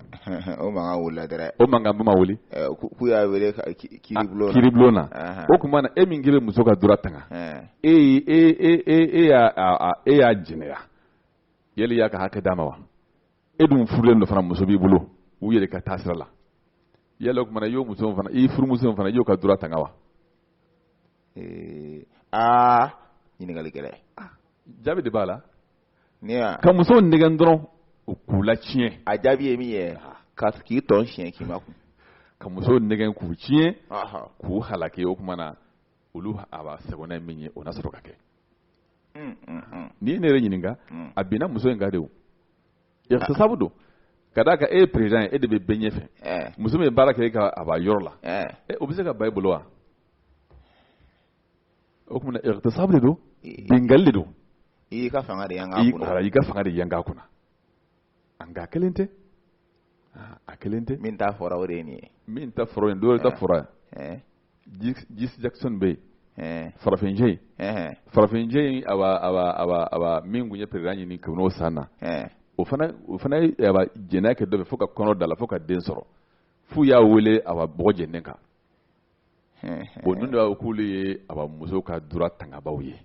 o mankan wulila dɛrɛ o mankanba ma wuli k'u y'a wele kiribulon na kiribulon na o kuma na e min k'i bɛ muso ka droit tanga e e e e e y'a e y'a jɛnɛya yali y'a ka hakɛ d'a ma wa e dun furulen don fana muso b'i bolo u yɛrɛ ka taasira la yala o kuma na i y'o muso fana i furumuso fana i y'o ka droit tanga wa ee aa ɲininkali gɛlɛn ah, jaabi de b'a la ne y'a ka musow nɛgɛn dɔrɔn o k'u latiɲɛ a jaabi ye min ye ah. ka k'i tɔn siɲɛ k'i ma kun ka musow nɛgɛn k'u tiɲɛ k'u halaki o kuma na olu awa sagona ye min ye o na sɔrɔ ka kɛ mm, mm, mm. n'i ye ne yɛrɛ ɲininka a binna muso in kan de o ightisabu don ka d'a kan e ye perezan ye e de bɛ bɛɛ ɲɛfɛ eh. muso min bɛ baara kɛ e ka awa yɔrɔ la eh. eh, o bɛ se ka ban e bolo wa o kuma na ightisabu de don binkanni de don i y'i ka fanga de yan k'a kunna i y'i ka fanga de yan k'a kunna a nka a kelen tɛ aa a kelen tɛ min ta fɔra o de ye nin ye min ta fɔra yen dɔw ta fɔra yan jesse jackson bɛ yen farafincɛ in farafincɛ in awa min tun ye perezan ɲini kɛ n'o san na o fana ye jɛnɛya kɛ dɔ fɛ fo ka kɔnɔ d'a la fo ka den sɔrɔ f'u y'a wele awa bɔgɔ jeninen kan bon ninnu de b'a fɔ k'olu ye awa muso ka droit tangabaw ye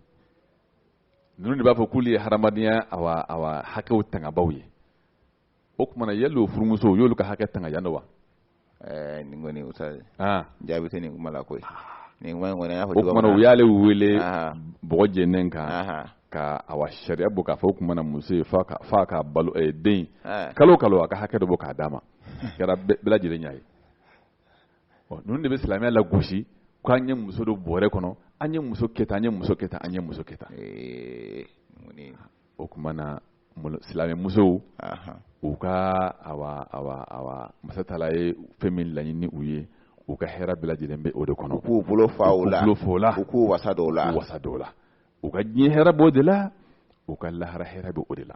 ninnu de b'a fɔ k'olu ye hadamadenya awa awa hakɛw tangabaaw ye o kuma na yali o furumusow y'olu ka hakɛ tanga yan dɔ wa ɛɛ eh, nin kɔni ustazi ah. jaabi tɛ nin kuma la koyi ah. nin kuma in kɔni an y'a fɔ o kuma na u y'ale wele ah. bɔgɔ jeninen kan ka awa sariya bɔ k'a fɔ o kuma na muso ye f'a ka f'a ka balo eh, den kalo kalo a ka hakɛ dɔ bɔ ka d'a ma kɛra bɛɛ lajɛlen y'a ye ninnu de bɛ silamɛya la gosi ko an ye muso don bɔrɛ kɔnɔ an ye muso kɛ an ye muso kɛ an ye muso kɛ o tuma na silamɛmuso u ka masa taara ye fɛn min laɲini u ye u ka hɛrɛ bila lajɛlen bɛ o de kɔnɔ k'u bolo fa o la fɔ la u k'u wasa dɔw la wasa dɔw la u ka diɲɛ hɛrɛ bɔ de la u ka lahara hɛrɛ bɛ o de la